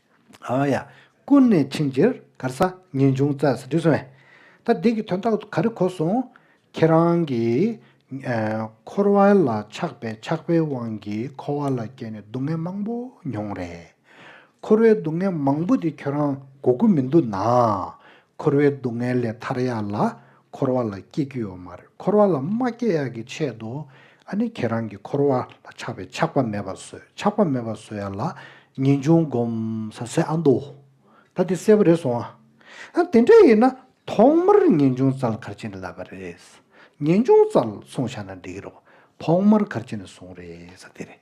ཨཱ་ཡ། ཀུན་ནས་འཆིང་རྒྱུར་གར་ས་ངེས་འབྱུང་རྩལ་ཟེར་དུས་སོང། ད་འདི་གི་དོན་དག་ག་རེ་གོ་སོང། ཁྱེད་རང་གིས། འཁོར་བ་ལ་ཆགས་པའི་ཆགས་པའི་དབང་གིས་འཁོར་བ་ལ་སྐྱེས་ནས་སྡུག་བསྔལ་མང་པོ་མྱོང་རེད། འཁོར་བའི་སྡུག་བསྔལ་མང་པོ་དེ་ཁྱོད་རང་གོ་གི་མི་འདུག་ན། འཁོར་བའི་སྡུག་བསྔལ་ལས་ཐར་ཡག་ལ་འཁོར་བ་ལ་སྐྱེ་རྒྱུ་ཡོད་མ་རེད་འཁོར་བ་ལ་མ་སྐྱེ་ཡག་གི་ཆེད་དུ་ཨ་ནི་ཁྱེད་རང་གི་འཁོར་བ་ལ་ཆགས་པའི་ཆགས་པ་མེད་པ་བཟོས་ཆགས་པ་མེད་པ་བཟོས་ཡ་ལ་ངེས་འབྱུང་སྒོམ་ས་ཟེར་ཨ་འདུག་ད་དེ་གསལ་པོ་རེད་སོང་ཨ་དེ་འདྲ་ཡིན་ན་ཐོག་མར་ངེས་འབྱུང་རྩལ་གར་བྱེད་ནི་ལབ་པ་རེད་ངེས་འབྱུང་རྩལ་སོང་ཤ་ན་འགྲིག་གི་རེད་ཐོག་མར་གར་བྱེད་ནི་སོང་རེད་ས་དེ་རེད།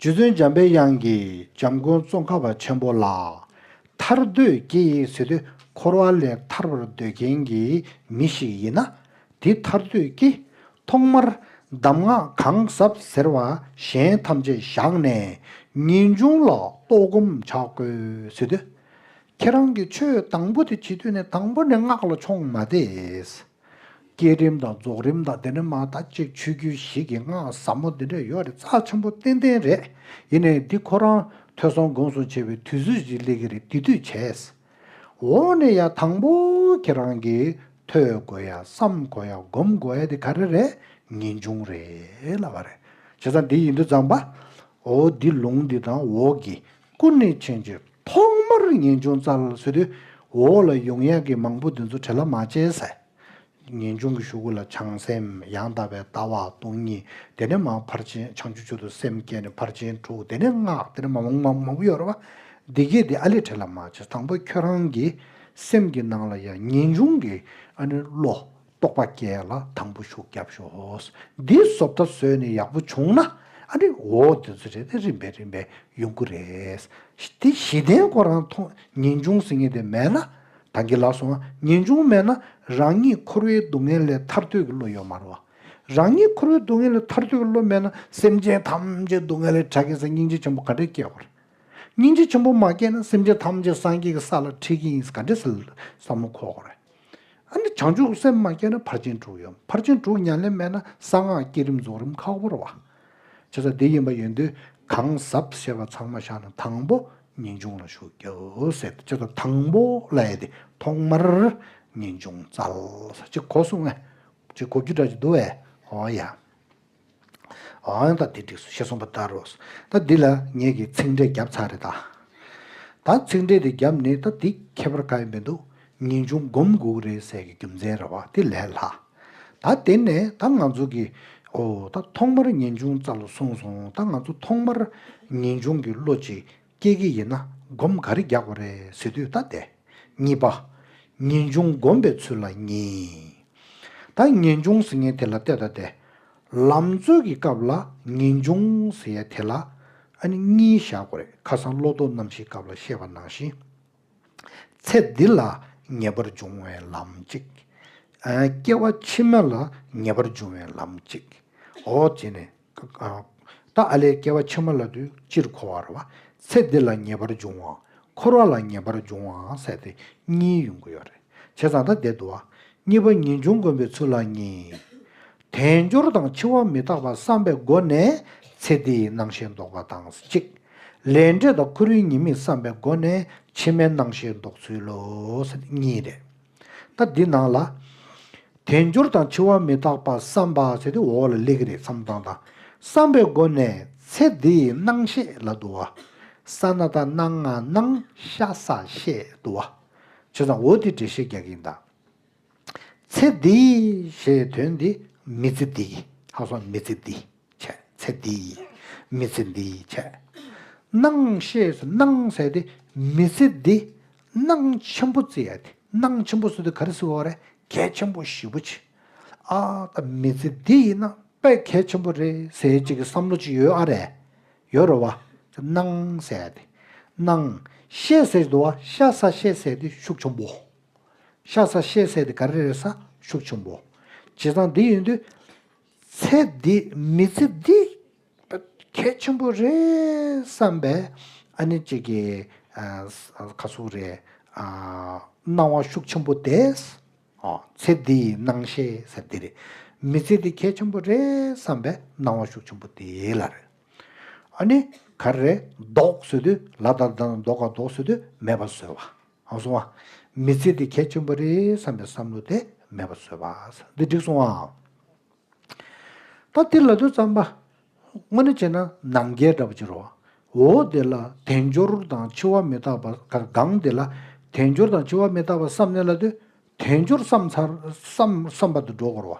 རྗེ་བཙུན་འཇམ་པའི་དབྱངས་ཀྱིས་འཇམ་མགོན་ཙོང་ཁ་བ་ཆེན་པོ་ལ། ཐར་འདོད་སྐྱེ་ཡི་ཟེར་དུས་འཁོར་བ་ལས་ཐར་བར་འདོད་མཁན་གྱི་མི་ཞིག་ཡིན་ན་དེ་ཐར་འདོད་སྐྱེ། ཐོག་མར་གདམས་ངག་གང་ཟབ་ཟེར་བ་གཞན་ཐམས་ཅད་བཞག་ནས་ངེས་འབྱུང་ལ་རྟོགས་སྒོམ་བྱ་དགོས་ཟེར་དུས། ཁྱེད་རང་གིས་ཆོས་དང་པོ་དེ་བྱེད་དུས་ནས་དང་པོ་ནས་སྔགས་ལ་མཆོངས་མ་བསྡད། བསྐྱེད་རིམ་དང་རྫོགས་རིམ་དང་འདི་ནི་མ་མཐའ་གཅིག་ཆོས་བརྒྱུད་ཞིག་གི་སྔགས་ཟབ་མོ་འདི་འདྲ་ཡོད་རེད་རྩ་ཆེན་པོ་ཏན་ཏན་རེད་ཡིན་ནའི་འདི་ཁོ་རང་ཐོས་སོང་དགོངས་སོང་བྱས་པའི་དུས་ཚོད་ཅིག་སླེབས་ཀྱི་རེད་དེ་དུས་བྱས་འོག་ནས་ཡང་དང་པོ་ཁྱེད་རང་གིས་ཐོས་དགོས་ཡ་བསམ་དགོས་ཡ་སྒོམ་དགོས་ཡ་དེ་ག་རེ་རེད་ངེས་འབྱུང་རེད་ལབ་པ་རེད་བྱས་ཙང་འདི་ཡིན་དུས་ཙང་པའོ་འདི་ལུང་འདི་དང་འོག་གི་སྐུ་གནས་མཁྱེན་གྱི་ཐོག་མར་ངེས་འབྱུང་རྩ་བརླག་ཚུལ་དུས་འོག་ལ་ཡོངས་ཡངས་ཀྱི་མང་པོ་འདི་ཚོ་བྲེ་ལ་མ་བྱས་ཟེར། ངེས་འབྱུང་གི་ཞུ་སྐུ་ལ་བྱང་སེམས་ཡང་དག་པའི་ལྟ་བ་སྟོང་ཉིད་དེ་ནས་མ་ཕར་ཕྱིན་བྱང་ཆུབ་ཆོས་དུ་སེམས་བསྐྱེད་ནས་ཕར་ཕྱིན་དྲུག་དེ་ནས་སྔགས་དེ་ནས་མང་པོ་མང་པོ་ཡོད་རེད་བ། འདི་སྐད་དེ་ཨ་ལས་བྲེ་ལ་མ་བྱས་དང་པོ་ཁྱོད་རང་གི་སེམས་ཀྱི་ནང་ལ་ཡང་ངེས་འབྱུང་གི་ཨ་ནི་བློ་རྟོགས་པ་སྐྱེ་ལ་དང་པོ་ཤུགས་རྒྱབ་ཤོག། འདིའི་བཟོ་ལྟ་བཟོས་ནས་ཡག་པོ་བྱུང་ན། ཨ་རེ་འོ་འདི་ཚོ་རེད་ད་རིམ་པས་རིམ་པས་ཡོང་གི་རེད། དེ་གཞི་རྟེན་སྐོར་རང་མཐོང་ངེས་འབྱུང་ཟེར་ངེས་དེ་མེད་ན། ད་འགྱིག་ལ་སོང་ངེས་འབྱུང་མེད་ན་རང་ཉིད་འཁོར་བའི་སྡུག་བསྔལ་ལས་ཐར་འདོད་ཀྱི་བློ་ཡོད་མ་རུང། རང་ཉིད་འཁོར་བའི་སྡུག་བསྔལ་ལས་ཐར་འདོད་ཀྱི་བློ་མེད་ན་སེམས་ཅན་ཐམས་ཅད་སྡུག་བསྔལ་ལས་གྲགས་ཀྱི་ས་སྙིང་རྗེ་ཆེན་པོ་ག་འདྲས་སྐྱེ་དགོས་རེད། སྙིང་རྗེ་ཆེན་པོ་མ་སྐྱེས་ན་སེམས་ཅན་ཐམས་ཅད་སངས་རྒྱས་ཀྱི་ས་ལ་འཁྲིད་ཀྱི་ཡིན་ག་འདྲས་བསམ་བློ་འཁོར་དགོས་རེད། བྱང་ཆུབ་སེམས་མ་སྐྱེས་ན་ཕར་ཕྱིན་དྲུག་ཡོད་ཕར་ཕྱིན་དྲུག་ཉམས་ལེན་མེད་ན་གསང་སྔགས་བསྐྱེད་རིམ་རྫོགས་རིམ་ཁག་བོར་བ། བྱེད་ས་འདི་ཡིན་པ་ཡོད་དུས་གང་ཟབ་བཤད་པ་ཚང་མ་བཞག་ན་དང་པོ་ངེས་འབྱུང་ལ་ཞུགས་རྒྱུ་ཟད་བྱེད་ས་དང་པོ་ལ་ཡལ་ཏེ་ཐོག་མར་ངེས་འབྱུང་རྩལ་ས་ཅིག་གོ་གསུང་ངས་ཅིག་གོ་རྒྱུ་དྲག་ཅིག་འདུག་བས་ཧོ་ཡ། ཨང། ད་འདི་འགྲིགས་སོ་ཞེས་གསུངས་པ་ལྟར་རོ། ད་འདི་ལ་ངེད་ཀྱིས་ཚིག་འགྲེལ་བརྒྱབ་ཚར་རེད་ད། ད་ཚིག་འགྲེལ་དེ་བརྒྱབ་ནས་ད་འདི་ཁྱད་པར་དཀའ་ཡི་མི་འདུག་ངེས་འབྱུང་སྒོམ་དགུག་རེ་ཟད་ཀྱི་རྒྱུ་མཚན་རེ་བ་དེ་ལས་ལྷག། ད་དེ་ནས་ད་ང་ཚོ་གིས། ཨོ། ད་ཐོག་མར་ངེས་འབྱུང་རྩ་ལོ་གསུངས་སོང་ད་ང་ཚོ་ཐོག་མར་ངེས་འབྱུང་གི་བློ་ཅིག་སྐྱེས་ཀྱི་ཡིན་ན་སྒོམ་ག་རེ་རྒྱག་པ་རེད་ཟེར་དུས་ད་བསྡད། གཉིས་པ། ངེས་འབྱུང་སྒོམ་པའི་ཚུལ་ལ་ཉེས། ད་ངེས་འབྱུང་ཟེར་ངེས་དེ་ལ་བལྟས་ད་བསྡད། ལམ་རྩོད་ཀྱི་སྐབས་ལ་ངེས་འབྱུང་ཟེར་ཡ་དེ་ལ་ཨ་ནི་གཉིས་བཞག་དགོས་རེད་ཁ་སང་བློ་ལྡོག་རྣམ་བཞིའི་སྐབས་ལ་བཤད་པ་ནང་བཞིན། ཚེ་འདི་ལ་ངེས་པར་འབྱུང་བའི་ལམ་གཅིག། སྐྱེ་བ་ཕྱི་མ་ལ་ངེས་པར་འབྱུང་བའི་ལམ་གཅིག། འོ་བྱས་ནས། ཏཱ་ཨ་ལས་སྐྱེ་བ་ཆེན་མོ་ལ་དུས་སྤྱིར་འཁོར་བར་བ། ཚེ་འདི་ལ་ངེས་པར་འབྱུང་བའང་འཁོར་བ་ལ་ངེས་པར་འབྱུང་བའང་བསལ་ཏེ་གཉིས་ཡོང་གི་ཡོད་རེད། བྱས་ཙང་ཐ་དད་དུ་བ། གཉིས་པ་ཉིད་འབྱུང་དཀོན་པའི་ཚུལ་ལ་གཉིས། དལ་འབྱོར་དང་འཆི་བ་མི་རྟག་པ་བསམ་པའི་སྒོ་ནས་ཚེ་འདིའི་སྣང་ཤེས་ལྡོག་པ་དང་གཅིག། ལས་འབྲས་དང་ཁོར་ཡུག་ཉེས་དམིགས་བསམ་པའི་སྒོ་ནས་ཕྱི་མའི་སྣང་ཤེས་ལྡོག་ཚུལ་ལོ། གཉིས་རེད། ད་འདི་ནང་ལ། དལ་འབྱོར་དང་འཆི་བ་མི་རྟག་པ་བསམ་པ་བྱས་ཏེ་འོག་ལ་གླེགས་རིས་མཚམས་དང་དང་བསམ་པའི་སྒོ་ནས་ཚེ་འདི་ཡི་སྣང་ཤེས་ལ་བསྡུ་བ། ས་ན་ད་སྣང་ང་སྣང་ཤ་ས་ཤས་བསྡུ་བ། བྱས་ཙང་འོ་དེ་འདྲེ་ཤེས་རྒྱག་གིན་གདའ། ཚེ་འདི་ཞེས་དོན་འདི་མི་ཚེ་འདི་ཧ་སོ་མི་ཚེ་འདི། ཆད། ཚེ་འདི་ཡི་མི་ཚེ་འདི་ཡི་ཆད། སྣང་ཤེས་སུ་སྣང་ཟད་དེ་མི་ཚེ་འདི། སྣང་ཆེན་པོ་ཙི་ཡ་དེ་སྣང་ཆེན་པོ་སུ་དེ་ག་རེ་སི་བ་རེ་གལ་ཆེན་པོ་ཞི་བོ་ཆེ། ཨ་ད་མི་ཚེ་འདི་ཡི་ན་པའི་གལ་ཆེན་པོ་རེ་ཟེ་ཅིག་གི་བསམ་བློ་ཅིག་ཡོད་ཨ་རེ། ཡོད་རེ་བ། སྣང་ཟད་དེ། སྣང་ཤེས་ཟད་དུ་བ་ཤ་ས་ཤེས་ཟད་དེ་ཤུགས་ཆེན་པོ། ཤ་ས་ཤེས་ཟད་དེ་ག་རེ་རེ་ས་ཤུགས་ཆེན་པོ། བྱས་ཙང་འདི་ཡིན་དུས། ཚེ་འདི་མི་ཚེ་འདི་གལ་ཆེན་པོ་རེད་བསམ་པས་ཨ་ནེ་གཅིག་གི་ཁ་སུ་རེ་སྣང་བ་ཤུགས་ཆེན་པོ་དེས་ཚེ་འདི་ཡི་སྣང་ཤེས་ཟེར་འདི་རེད། མི་ཚེ་འདི་གལ་ཆེན་པོ་རེད་བསམ་པས་སྣང་བ་ཤུགས་ཆེན་པོ་དེ་ལ་རེད། ཨ་ནེ་ག་རེ་ཟློག་བཟོད་དུས་ལ་དྭགས་དང་ཟློག་ག་ཟློག་བཟོད་དུས་མེད་པ་བཟོས་བ། ཨང་སོང་བ། མི་ཚེ་འདི་གལ་ཆེན་པོ་རེད་བསམ་པའི་བསམ་བློ་དེ་མེད་པ་བཟོས་པ། འདི་འགྲིག་སོང་ཨང། ད་འདི་ལ་དུས་བརྩམས་པ། དངོས་གནས་བྱས་ན་ནང་རྒྱལ་འདྲ་པོ་ཅི་རོ། འོ་འདི་ལ་དལ་འབྱོར་དང་འཆི་བ་མི་རྟག་པ་གང་འདི་ལ་དལ་འབྱོར་དང་འཆི་བ་མི་རྟག་པ་བསམ་ནས་ལ་དུས་དལ་འབྱོར་བསམ་ཚར་བསམ་བསམ་པ་དུ་འགྲོ་དགོས་རོ།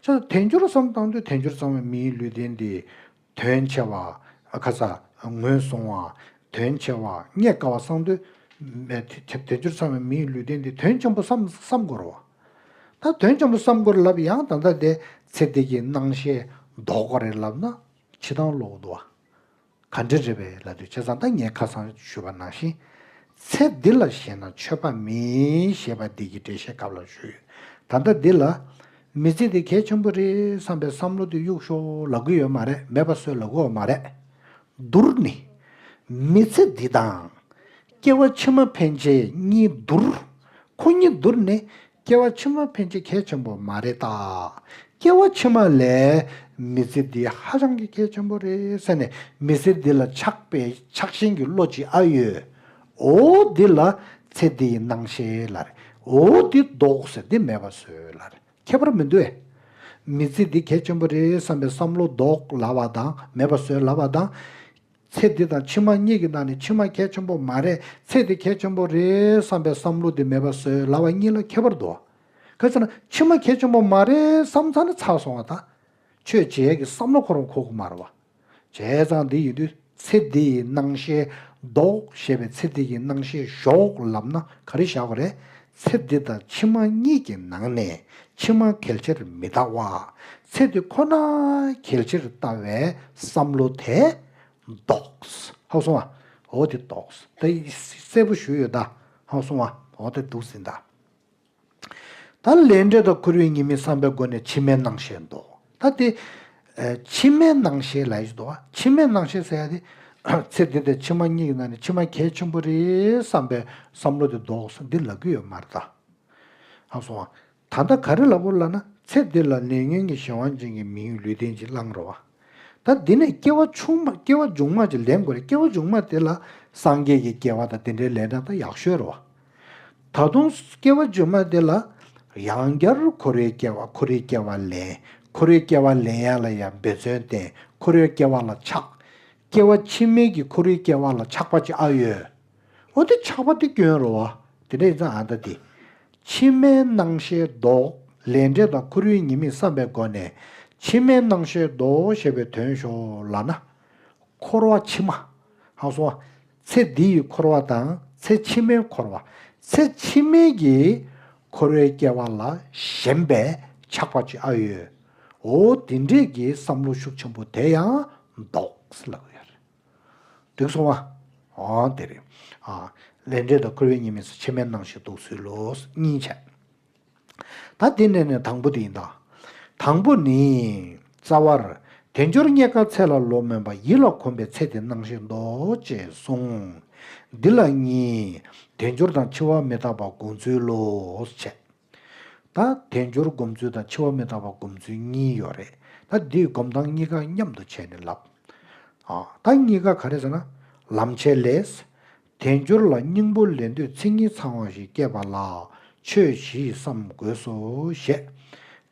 ཆ་ད་དལ་འབྱོར་བསམ་བཏང་དུས་དལ་འབྱོར་བརྩམས་བའི་མིའི་ལུས་རྟེན་འདི་དོན་ཆེ་བ། ཁ་ཚ་ངོས་བཟུང་བ། དོན་ཆེ་བ། རྙེད་དཀའ་བ་གསང་འདུས། དལ་འབྱོར་ཚང་བའི་མིའི་ལུས་རྟེན་འདི་དོན་ཆེན་པོ་བསམ་བསམ་གོ། ད་དོན་ཆེན་པོ་བསམ་གོ་ལབ་ཡང་ད་ལྟ་དེ་ཚེ་འདི་གྱི་སྣང་ཤེས་ལྡོག་གོ་རེད་ལབ་ན་ཕྱི་ཐང་བློ་འུར་དུ་བ། ག་འདྲེ་རེད་པས་ལ་དུས་ཆེ་ཚང་ད་ངས་ཁ་གསང་ཞུས་པ་ནང་བཞིན། ཚེ་འདི་ལ་ཞེན་ན་ཆོས་པ་མིན་ཞེས་པ་འདི་གྱི་འགྲེལ་བཤད་སྐབས་ལ་ཞུས་ཡོད་ད་ལྟ་འདི་ལ། མི་ཚེ་འདི་གལ་ཆེན་པོ་རེད་བསམ་པའི་བསམ་བློ་དེ་གཡུག་ཞོར་ལ་གུ་ཡོད་མ་རེད་མེད་པ་བཟོས་ལ་གོ་བ་མ་རེད། བསྡུར་ནི། མི་ཚེ་འདི་དང། སྐྱེ་བ་ཕྱི་མ་ཕན་ཆད་གཉིས་བསྡུར། ཁོ་གཉིས་བསྡུར་ནི། སྐྱེ་བ་ཕྱི་མ་ཕན་ཆད་གལ་ཆེན་པོ་མ་རེད་ད། སྐྱེ་བ་ཕྱི་མ་ལས་མི་ཚེ་འདི་ཧ་ཅང་གི་གལ་ཆེན་པོ་རེད་ཟེར་ནས་མི་ཚེ་འདི་ལ་ཆགས་པའི་ཆགས་ཞེན་གྱི་བློ་ཅི་ཨ་ཡོད། འོ་འདི་ལ་ཚེ་འདི་ཡི་སྣང་ཤེས་ལར། འོ་འདི་བཟློག་ཟེར་འདི་མེད་པར་བཟོས་ལར། ཁྱད་པར་མི་འདུ་བས། མི་ཚེ་འདི་གལ་ཆེན་པོ་རེད་བསམ་པའི་བསམ་བློ་བཟློག་ལ་བ་དང་མེད་པར་བཟོས་ལ་བ་དང། ཚེ་འདི་དང་ཕྱི་མ་གཉིས་ཀྱི་ནང་ནས་ཕྱི་མ་གལ་ཆེན་པོ་མ་རེད་ཚེ་འདི་གལ་ཆེན་པོ་རེད་བསམ་པའི་བསམ་བློ་འདི་མེད་པར་བཟོས་ལ་བ་གཉིས་ལ་ཁྱད་པར་འདུ་བ། གལ་སྲིད་ན་ཕྱི་མ་གལ་ཆེན་པོ་མ་རེད་བསམ་ཚར་ན་ཚར་སོང་བ་དང། ཆོས་བྱེད་ཀྱི་བསམ་བློ་ཁོ་རང་ཁོག་མར་བ། བྱས་ཙང་འདི་ཡོད་དུས་ཚེ་འདི་ཡི་སྣང་ཤེས་ལྡོག་ཞེས་པའི་ཚེ་འདི་ཡི་སྣང་ཤེས་ཞོག་ལབ་ན་ག་རེ་བཞག་པ་རེད། ཚེ་འདི་དང་ཕྱི་མ་གཉིས་ཀྱི་ནང་ནས་ཕྱི་མ་གལ་ཆེར་མི་ལྟ་བར་ཚེ་འདི་ཁོ་ན་གལ་ཆེར་ལྟ་བའི་བསམ་བློ་དེ་རྡོགས་ཧཱུྃ་སོང་བ་འོ་དེ་རྡོགས་ད་གསལ་པོ་ཞུས་ཡོད་ད་ཧཱུྃ་སོང་བ་འོ་དེ་འདུག་ཟིན་ད། ད་ལས་འབྲས་དང་ཁུར་བའི་ཉེས་དམིགས་བསམ་པའི་སྒོ་ནས་ཕྱི་མའི་སྣང་ཤེས་འདོགས། ད་དེ། ཕྱི་མའི་སྣང་ཤེས་ལ་ཡིས་འདོགས་ཨ། ཕྱི་མའི་སྣང་ཤེས་ཟེར་ཡ་དེ། ཚེ་འདི་འདྲའི་ཕྱི་མ་གཉིས་ཀྱི་ནང་ནས་ཕྱི་མ་གལ་ཆེན་པོ་རེད་བསམ་པའི་བསམ་བློ་དེ་འདོགས་སོ་འདི་ལབ་ཀྱི་ཡོད་མར་ད། ཨང་སོང་ཨ། ད་ལྟ་ག་རེ་ལབ་བོ་ལབ་ན་ཚེ་འདི་ལ་ལས་ཉོན་གྱི་གཞན་དབང་ཅན་གྱི་མི་ཡུལ་ལུས་རྟེན་ཅིག་བླངས་རོགས་ཨ། ད་འདི་ནས་སྐྱེ་བ་ཆུང་མ་སྐྱེ་བ་འབྱུང་མ་ཅིག་ལེན་དགོས་རེད་སྐྱེ་བ་འབྱུང་མ་དེ་ལ་སངས་རྒྱས་ཀྱི་སྐྱེ་བ་དང་དེ་འདྲའི་ལས་འབྲང་ད་ཡག་ཤོས་རོགས་ཨ། ད་དུང་སྐྱེ་བ་བཅོས་མ་དེ་ལ་ཡང་བསྐྱར་ཁོ་རོའི་སྐྱེ་བ་ཁོ་རོའི་སྐྱེ་བ་ལེན་ཁོ་རོའི་སྐྱེ་བ་ལེན་ཡང་ལ་ཡང་འབད་བརྩོན་བསྟེན་ཁོ་རོའི་སྐྱེ་བ་ལ་ཆགས། སྐྱེ་བ་ཕྱི་མའི་གི་ཁོ་རོའི་སྐྱེ་བ་ལ་ཆགས་པ་ཅི་ཨ་ཡོད། འོ་དེ་ཆགས་པ་དེ་སྐྱོན་རོ་བ་དེ་འདྲ་ཡིན་ཙང་ཨ་ད་དེ། ཕྱི་མའི་སྣང་ཤེས་ལྡོག་ལས་འབྲས་དང་ཁོ་རོའི་ཉེས་དམིགས་བསམ་པའི་སྒོ་ནས་ཕྱི་མའི་སྣང་ཤེས་ལྡོག་ཞེས་པའི་དོན་ཞོག་ལ་ན། འཁོར་བ་ཕྱི་མ། ཧཱུྃ་སོགས། ཚེ་འདི་ཡི་འཁོར་བ་དང་ཚེ་ཕྱི་མའི་འཁོར་བ། ཚེ་ཕྱི་མའི་ཀྱི་འཁོར་བའི་སྐྱེ་བ་ལ་ཞེན་པས་ཆགས་པ་ཅི་ཨ་ཡོད། འོ་དེ་འདྲས་ཀྱི་བསམ་བློ་ཤུགས་ཆེན་པོ་དེ་ཡང་འདོགས། ལབ་ཡོད་རེད། འགྲིག་སོང་ཨ། འོ་དེ་རེད། ལས་འབྲས་དང་འཁོར་བའི་ཉེས་དམིགས་སུ་ཕྱི་མའི་སྣང་ཞིག་འདོགས་ཚུལ་ལོ། གཉིས་ཆ། ད་དེ་ནས་ནས་དང་པོ་དེ་ཡིན་ད། དང་པོ་ནི། རྩ་བར། དལ་འབྱོར་རྙེད་དཀའ་ཚེ་ལ་ལོ་སྨོན་པ་ཡིད་ལ་གོམས་པའི་ཚེ་དེ་སྣང་ཞིང་འདོགས་ཅེས་གསུངས། འདི་ལ་གཉིས། དལ་འབྱོར་དང་འཆི་བ་མི་རྟག་པ་བསྒོམ་ཚུལ་ལོས་བྱེད། ད་དལ་འབྱོར་བསྒོམ་ཚུལ་དང་འཆི་བ་མི་རྟག་པ་བསྒོམ་ཚུལ་གཉིས་ཡོད་རེད། ད་འདིས་སྒོམ་སྟངས་གཉིས་ཀ་མཉམ་དུ་བྱས་ནས་ལབ། ད་གཉིས་ཀ་ག་རེ་ཟེར་ན། ལམ་བྱེད་ལས། དལ་འབྱོར་ལ་སྙིང་པོ་ལེན་འདོད་ཚིག་གཉིས་ཚང་བ་ཞིག་སྐྱེས་པ་ལ་ཆོས་བཞི་ཡི་བསམ་དགོས་སོ་ཞེས།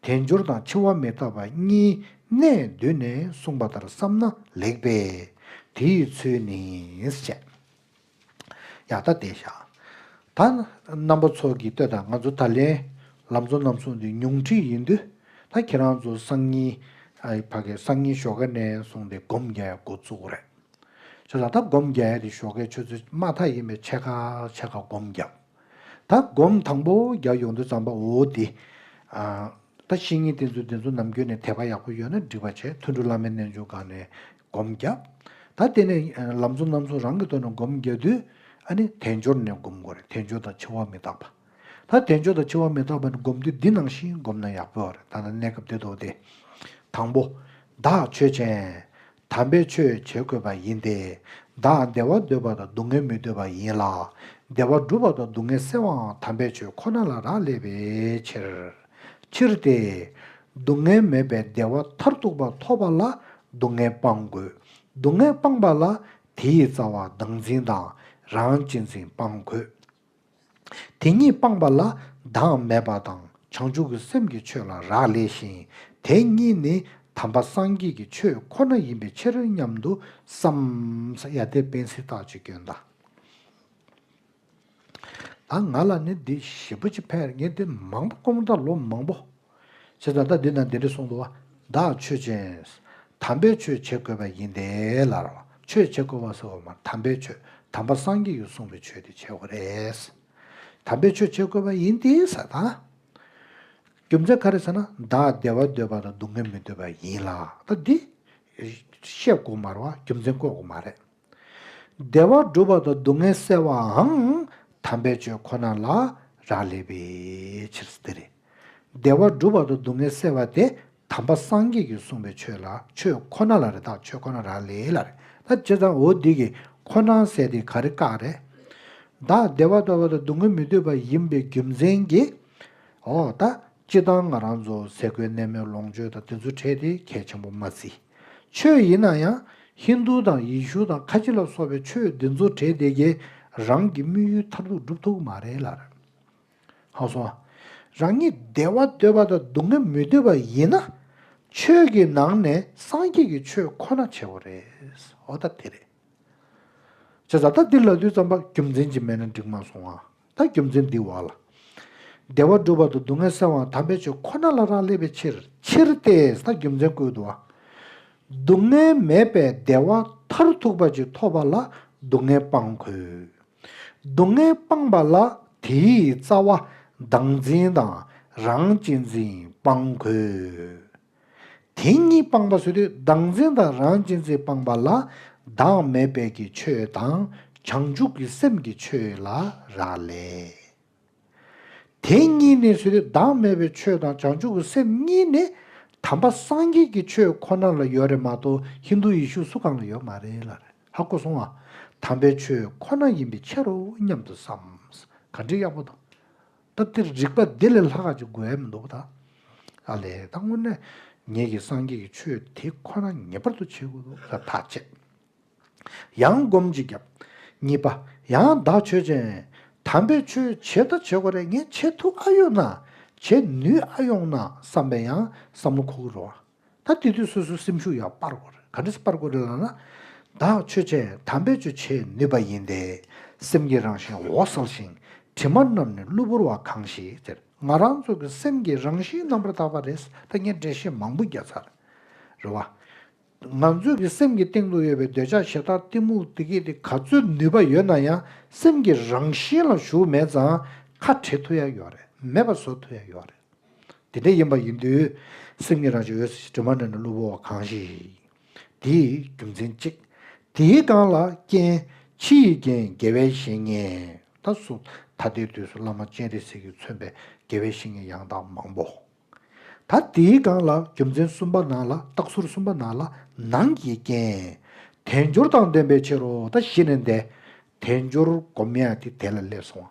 དལ་འབྱོར་དང་འཆི་བ་མི་རྟག་པ་གཉིས་གནས་བསྡུས་ནས་གསུངས་པ་ལྟར་བསམ་ན་ལེགས་པས། དེ་ཡི་ཚུལ་ནི། ཅེས་ཡང་དག་བཟླས་བཞག། ད་རྣམ་པ་ཚོགས་ཀྱིས་ལྟོས་དང་ང་ཚོ་ད་ལན་ལམ་གཙོ་རྣམ་གསུངས་ཏེ་ཉུང་འཕྲི་ཡིན་དུས་ད་ཁྱེད་རང་ཚོ་སང་ཉིན། ཨ་ཡི་ཕ་གས་སང་ཉིན་ཞོགས་ཀ་ནས་བཟུང་སྟེ་སྒོམ་རྒྱག་ཡ་འགོ་བཙུགས་རེད། ཆོས་ལ་ད་སྒོམ་རྒྱག་ཡ་དེ་ཞོགས་ཀའི་ཆོས་ཚུལ་མ་མཐའ་ཡིན་པས་ཆད་ཁ་ཆད་ཁ་སྒོམ་རྒྱག། ད་སྒོམ་དང་པོ་རྒྱག་ཡོང་དུས་ཙམ་པ་འོ་འདི། ད་བཤེས་གཉེན་བསྟེན་ཚུལ་འདི་ཚོ་ནམ་རྒྱུན་ནས་དད་པ་ཡག་པོ་ཡོད་ན་འགྲིག་པ་བྱས་ཐུན་དྲུག་བླ་མའི་རྣལ་འབྱོར་སྒང་ནས་སྒོམ་རྒྱག། ད་བརྟེན་ནས་ལམ་གཙོ་རྣམ་གསུམ་རང་གི་ཐོག་ནས་སྒོམ་རྒྱག་དུས། ཨ་ནི་དལ་འབྱོར་ནས་སྒོམ་དགོས་རེད་དལ་འབྱོར་དང་འཆི་བ་མི་རྟག་པ། ད་དལ་འབྱོར་དང་འཆི་བ་མི་རྟག་པ་ནི་སྒོམ་དུས་འདི་ནང་བཞིན་སྒོམ་ན་ཡག་པོ་རེད་ད་ལྟ་གནས་སྐབས་འདི་ཐོག་དེ། དང་པོ། བདག་ཆོས་ཅན། དམ་པའི་ཆོས་བྱེད་དགོས་པ་ཡིན་ཏེ། བདག་བདེ་བ་འདོད་པ་དང་སྡུག་བསྔལ་མི་འདོད་པ་ཡིན་ལ། བདེ་བ་སྒྲུབ་པ་དང་སྡུག་བསྔལ་སེལ་བའང་དམ་པའི་ཆོས་ཁོ་ན་ལ་རག་ལས་པའི་ཕྱིར། ཕྱིར་ཏེ། སྡུག་བསྔལ་མེད་པའི་བདེ་བ་མཐར་ཐུག་པ་ཐོབ་པ་ལ་སྡུག་བསྔལ་སྤང་དགོས། སྡུག་བསྔལ་སྤངས་པ་ལ་དེ་ཡི་རྩ་བ་བདག་འཛིན་དང་རང་གཅེས་འཛིན་སྤང་དགོས། དེ་ཉིད་སྤངས་པ་ལ་བདག་མེད་པ་དང་བྱང་ཆུབ་ཀྱི་སེམས་ཀྱི་ཆོས་ལ་རག་ལས་ཤིང་དེ་གཉིས་ནི་དམ་པ་སངས་རྒྱས་ཀྱི་ཆོས་ཁོ་ན་ཡིན་པའི་ཕྱིར་སྙམ་དུ་བསམ། ང་ལ་ནི་འདི་བཞི་པོ་ཅི་ཕན་ངས་འདི་མང་པོ་སྐོང་དང་ལོ་མང་པོ་ཞེས་སོགས་བརྡ་འདི་དང་འདི་འདྲ་གསུངས་འདུག་བདག་ཆོས་ཅན། དམ་པའི་ཆོས་བྱེད་དགོས་པ་ཡིན་ཏེ་ལར། ཆོས་བྱེད་དགོས་པ་ཟེར་བ་མ་དམ་པའི་ཆོས་དམ་པ་སངས་རྒྱས་ཡུལ་གསུངས་པའི་ཆོས་དེ་བྱེད་དགོས་རེད། དམ་པའི་ཆོས་བྱེད་དགོས་པ་ཡིན་ཏེ་ཟེར་ན། རྒྱུ་མཚན་ག་རེ་ཟེར་ན་བདག་བདེ་བ་འདོད་པ་དང་སྡུག་བསྔལ་མི་འདོད་པ་ཡིན་ལ་བདག་འདི། བཤད་དགོས་མ་རུང་བ་རྒྱུ་མཚན་བཀོད་དགོས་མ་རེད། བདེ་བ་བསྒྲུབ་པ་དང་སྡུག་བསྔལ་བསལ་བའང་དམ་པའི་ཆོས་ཁོ་ན་ལ་རག་ལས་པའི་ཕྱིར་སྟེ། བདེ་བ་བསྒྲུབ་པ་དང་སྡུག་བསྔལ་བསལ་བ་དེ་དམ་པ་སངས་རྒྱས་ཀྱིས་གསུངས་པའི་ཆོས་ལ་ཆོས་ཁོ་ན་ལ་རེ་དྭགས་ཆོས་ཁོ་ན་རག་ལས་ལ་རེ་ད་ཇི་ཙམ་འོ་འདི་གི་ཁོ་ན་བསལ་ཏེ་ག་རེ་བཀག་རེ། བདག་བདེ་བ་སྟོར་བ་དང་སྡུག་བསྔལ་མི་འདོད་པ་ཡིན་པའི་རྒྱུ་མཚན་གྱིས། འོ་ད་ཅི་ལྟར་ང་རང་ཚོ་ཟས་གོས་གནས་མལ་ལོངས་སྤྱོད་དང་དེ་ཚོ་འཕྲད་དེ་གལ་ཆེན་པོ་མ་བརྩིས། ཆོས་ཡིན་ན་ཡང་ཧིན་རྡུ་དང་ཡེ་ཤུ་དང་ཁ་ཆེ་ལ་སོགས་པའི་ཆོས་འདི་ཚོ་བྲེལ་བདེ་གྱིས་རང་གི་དམིགས་ཡུལ་མཐར་ཐུག་འགྲུབ་ཐུབ་མ་རེད་ལར་ཧང་སོང། རང་ཉིད་བདེ་བ་འདོད་པ་དང་སྡུག་བསྔལ་མི་འདོད་པ་ཡིན་ན་ཆོས་ཀྱི་ནང་ནས་སངས་རྒྱས་ཀྱི་ཆོས་ཁོ་ན་བྱེད་པོ་རེད་ཨོ་ད་དེ་རེད། བྱས་ཙང་ད་འདི་ལ་དུས་ཙམ་པ་རྒྱུ་མཚན་གྱིས་མེད་ན་འགྲིག་མ་སོང་ཨ་ད་རྒྱུ་མཚན་འདིའི་དབང་ལ། བདེ་བ་བསྒྲུབ་བར་དུ་སྡུག་བསྔལ་སེལ་བའང་དམ་པའི་ཆོས་ཁོ་ན་ལ་རག་ལས་པའི་ཕྱིར། ཕྱིར་ཏེ། ད་རྒྱུ་མཚན་བསྐུལ་དུ་བ། སྡུག་བསྔལ་མེད་པའི་བདེ་བ་མཐར་ཐུག་པ་ཅིག་ཐོབ་པ་ལ་སྡུག་བསྔལ་སྤང་དགོས། སྡུག་བསྔལ་སྤངས་པ་ལ་དེའི་རྩ་བ་བདག་འཛིན་དང་རང་གཅེས་འཛིན་སྤང་དགོས། དེ་གཉིས་སྤངས་པ་སོ་དུས་བདག་འཛིན་དང་རང་གཅེས་འཛིན་སྤངས་པ་ལ་བདག་མེད་དཔལ་གྱི་ཆོས་དང་བྱང་ཆུབ་ཀྱི་སེམས་ཀྱི་ཆོས་ལ་རག་ལས། དེ་གཉིས་ནི་སོ་དུས་བདག་མེད་པའི་ཆོས་དང་བྱང་ཆུབ་ཀྱི་སེམས་གཉིས་ནི་དམ་པ་སངས་རྒྱས་ཀྱི་ཆོས་ཁོ་ན་ལ་ཡོད་རེད་མ་གཏོགས་ཧིན་དུ་ཡེ་ཤུ་སུ་གང་ལ་ཡོད་མ་རེད་ལ་རེད་ཧ་གོ་སོང་ཨ། དམ་པའི་ཆོས་ཁོ་ན་ཡིན་པའི་ཕྱིར་རོ་སྙམ་དུ་བསམས། ག་འདྲའི་ཡག་པོ་དང། སྐབས་འདིར་རིགས་པ་འདི་ལས་ལྷག་ཅིག་དགོས་ཡ་མི་འདུག་ད། ཨ་ལས་ད་དངོས་གནས་ངེད་ཀྱིས་སངས་རྒྱས་ཀྱི་ཆོས་དེ་ཁོ་ན་ངེས་པར་དུ་འཆད་དགོས་འདུག་ད་ཐག་བཅད། ཡང་སྒོམ་ཅིག་བརྒྱབ། གཉིས་པ། ཡང་བདག་ཆོས་ཅན། དམ་པའི་ཆོས་བྱེད་ད་བྱེད་དགོས་རེད་ངས་བྱེད་ཐུག་ཨ་ཡོད་ན། བྱེད་ནུས་ཨ་ཡོང་ན་བསམ་པས་ཡང་བསམ་བློ་འཁོར་གི་རོགས། ད་དུས་དུས་སོ་སོའི་སེམས་ཤུགས་ཡང་སྤར་དགོས་རེད་ག་འདྲ་སྤར་དགོས་རེད་ལབ་ན། བདག་ཆོས་ཅན་དམ་པས་ཆོས་བྱེད་ནུས་པ་ཡིན་ཏེ། སེམས་ཀྱི་རང་བཞིན་འོག་གསལ་ཞིང་དྲི་མ་རྣམས་ནི་གློ་བུར་བ་གང་ཞིག་དེར་ང་རང་ཚོ་གི་སེམས་ཀྱི་རང་བཞིན་རྣམ་པར་དག་པ་རེད་ད་ངས་འགྲེལ་བཤད་མང་པོ་རྒྱག་ཚར་རེད། རེད་བ། ང་ཚོ་གི་སེམས་ཀྱི་སྟེང་དུ་ཡོད་པའི་འདོད་ཆགས་ཞེ་སྡང་གཏི་མུག་དེ་གས་དེ་ག་ཚོད་ནུས་པ་ཡོད་ན་ཡང་སེམས་ཀྱི་རང་བཞིན་ལ་ཞུགས་མེད་ཙང་ཁ་བྲལ་ཐུབ་ཡ་ཡོད་རེད་མེད་པ་བཟོ་ཐུབ་ཡ་ཡོད་རེད། དེ་འདྲ་ཡིན་པ་ཡིན་དུས། སེམས་ཉིད་རང་བྱུང་འོད་ཟེར་གྱི་དྲི་མ་བསྣོལ་ནས་གློ་བུར་བ་གང་ཞིག། དེ་ཡི་རྒྱུ་མཚན་གཅིག། དེའི་རྐང་ལག་རྐྱེན། ཕྱི་ཡི་རྐྱེན་དགེ་བའི་བཤེས་གཉེན། ད་གཟུགས་ད་ལྟའི་དུས་སུ་བླ་མ་སྤྱན་རས་གཟིགས་ཀྱིས་མཚོན་པའི་དགེ་བའི་བཤེས་གཉེན་ཡང་དག་མང་པོ། ད་དེའི་རྐང་ལག་རྒྱུ་མཚན་གསུམ་པ་ནང་ལ་རྟགས་ཟུར་གསུམ་པ་ནང་ལ་ནང་གི་རྐྱེན། དལ་འབྱོར་དང་ལྡན་པའི་ཕྱིར་རོ་ད་གཞི་ནས་འདས། དལ་འབྱོར་སྒོམ་ཡང་དེ་དལ་ལ་སླེབས་སོང་བ།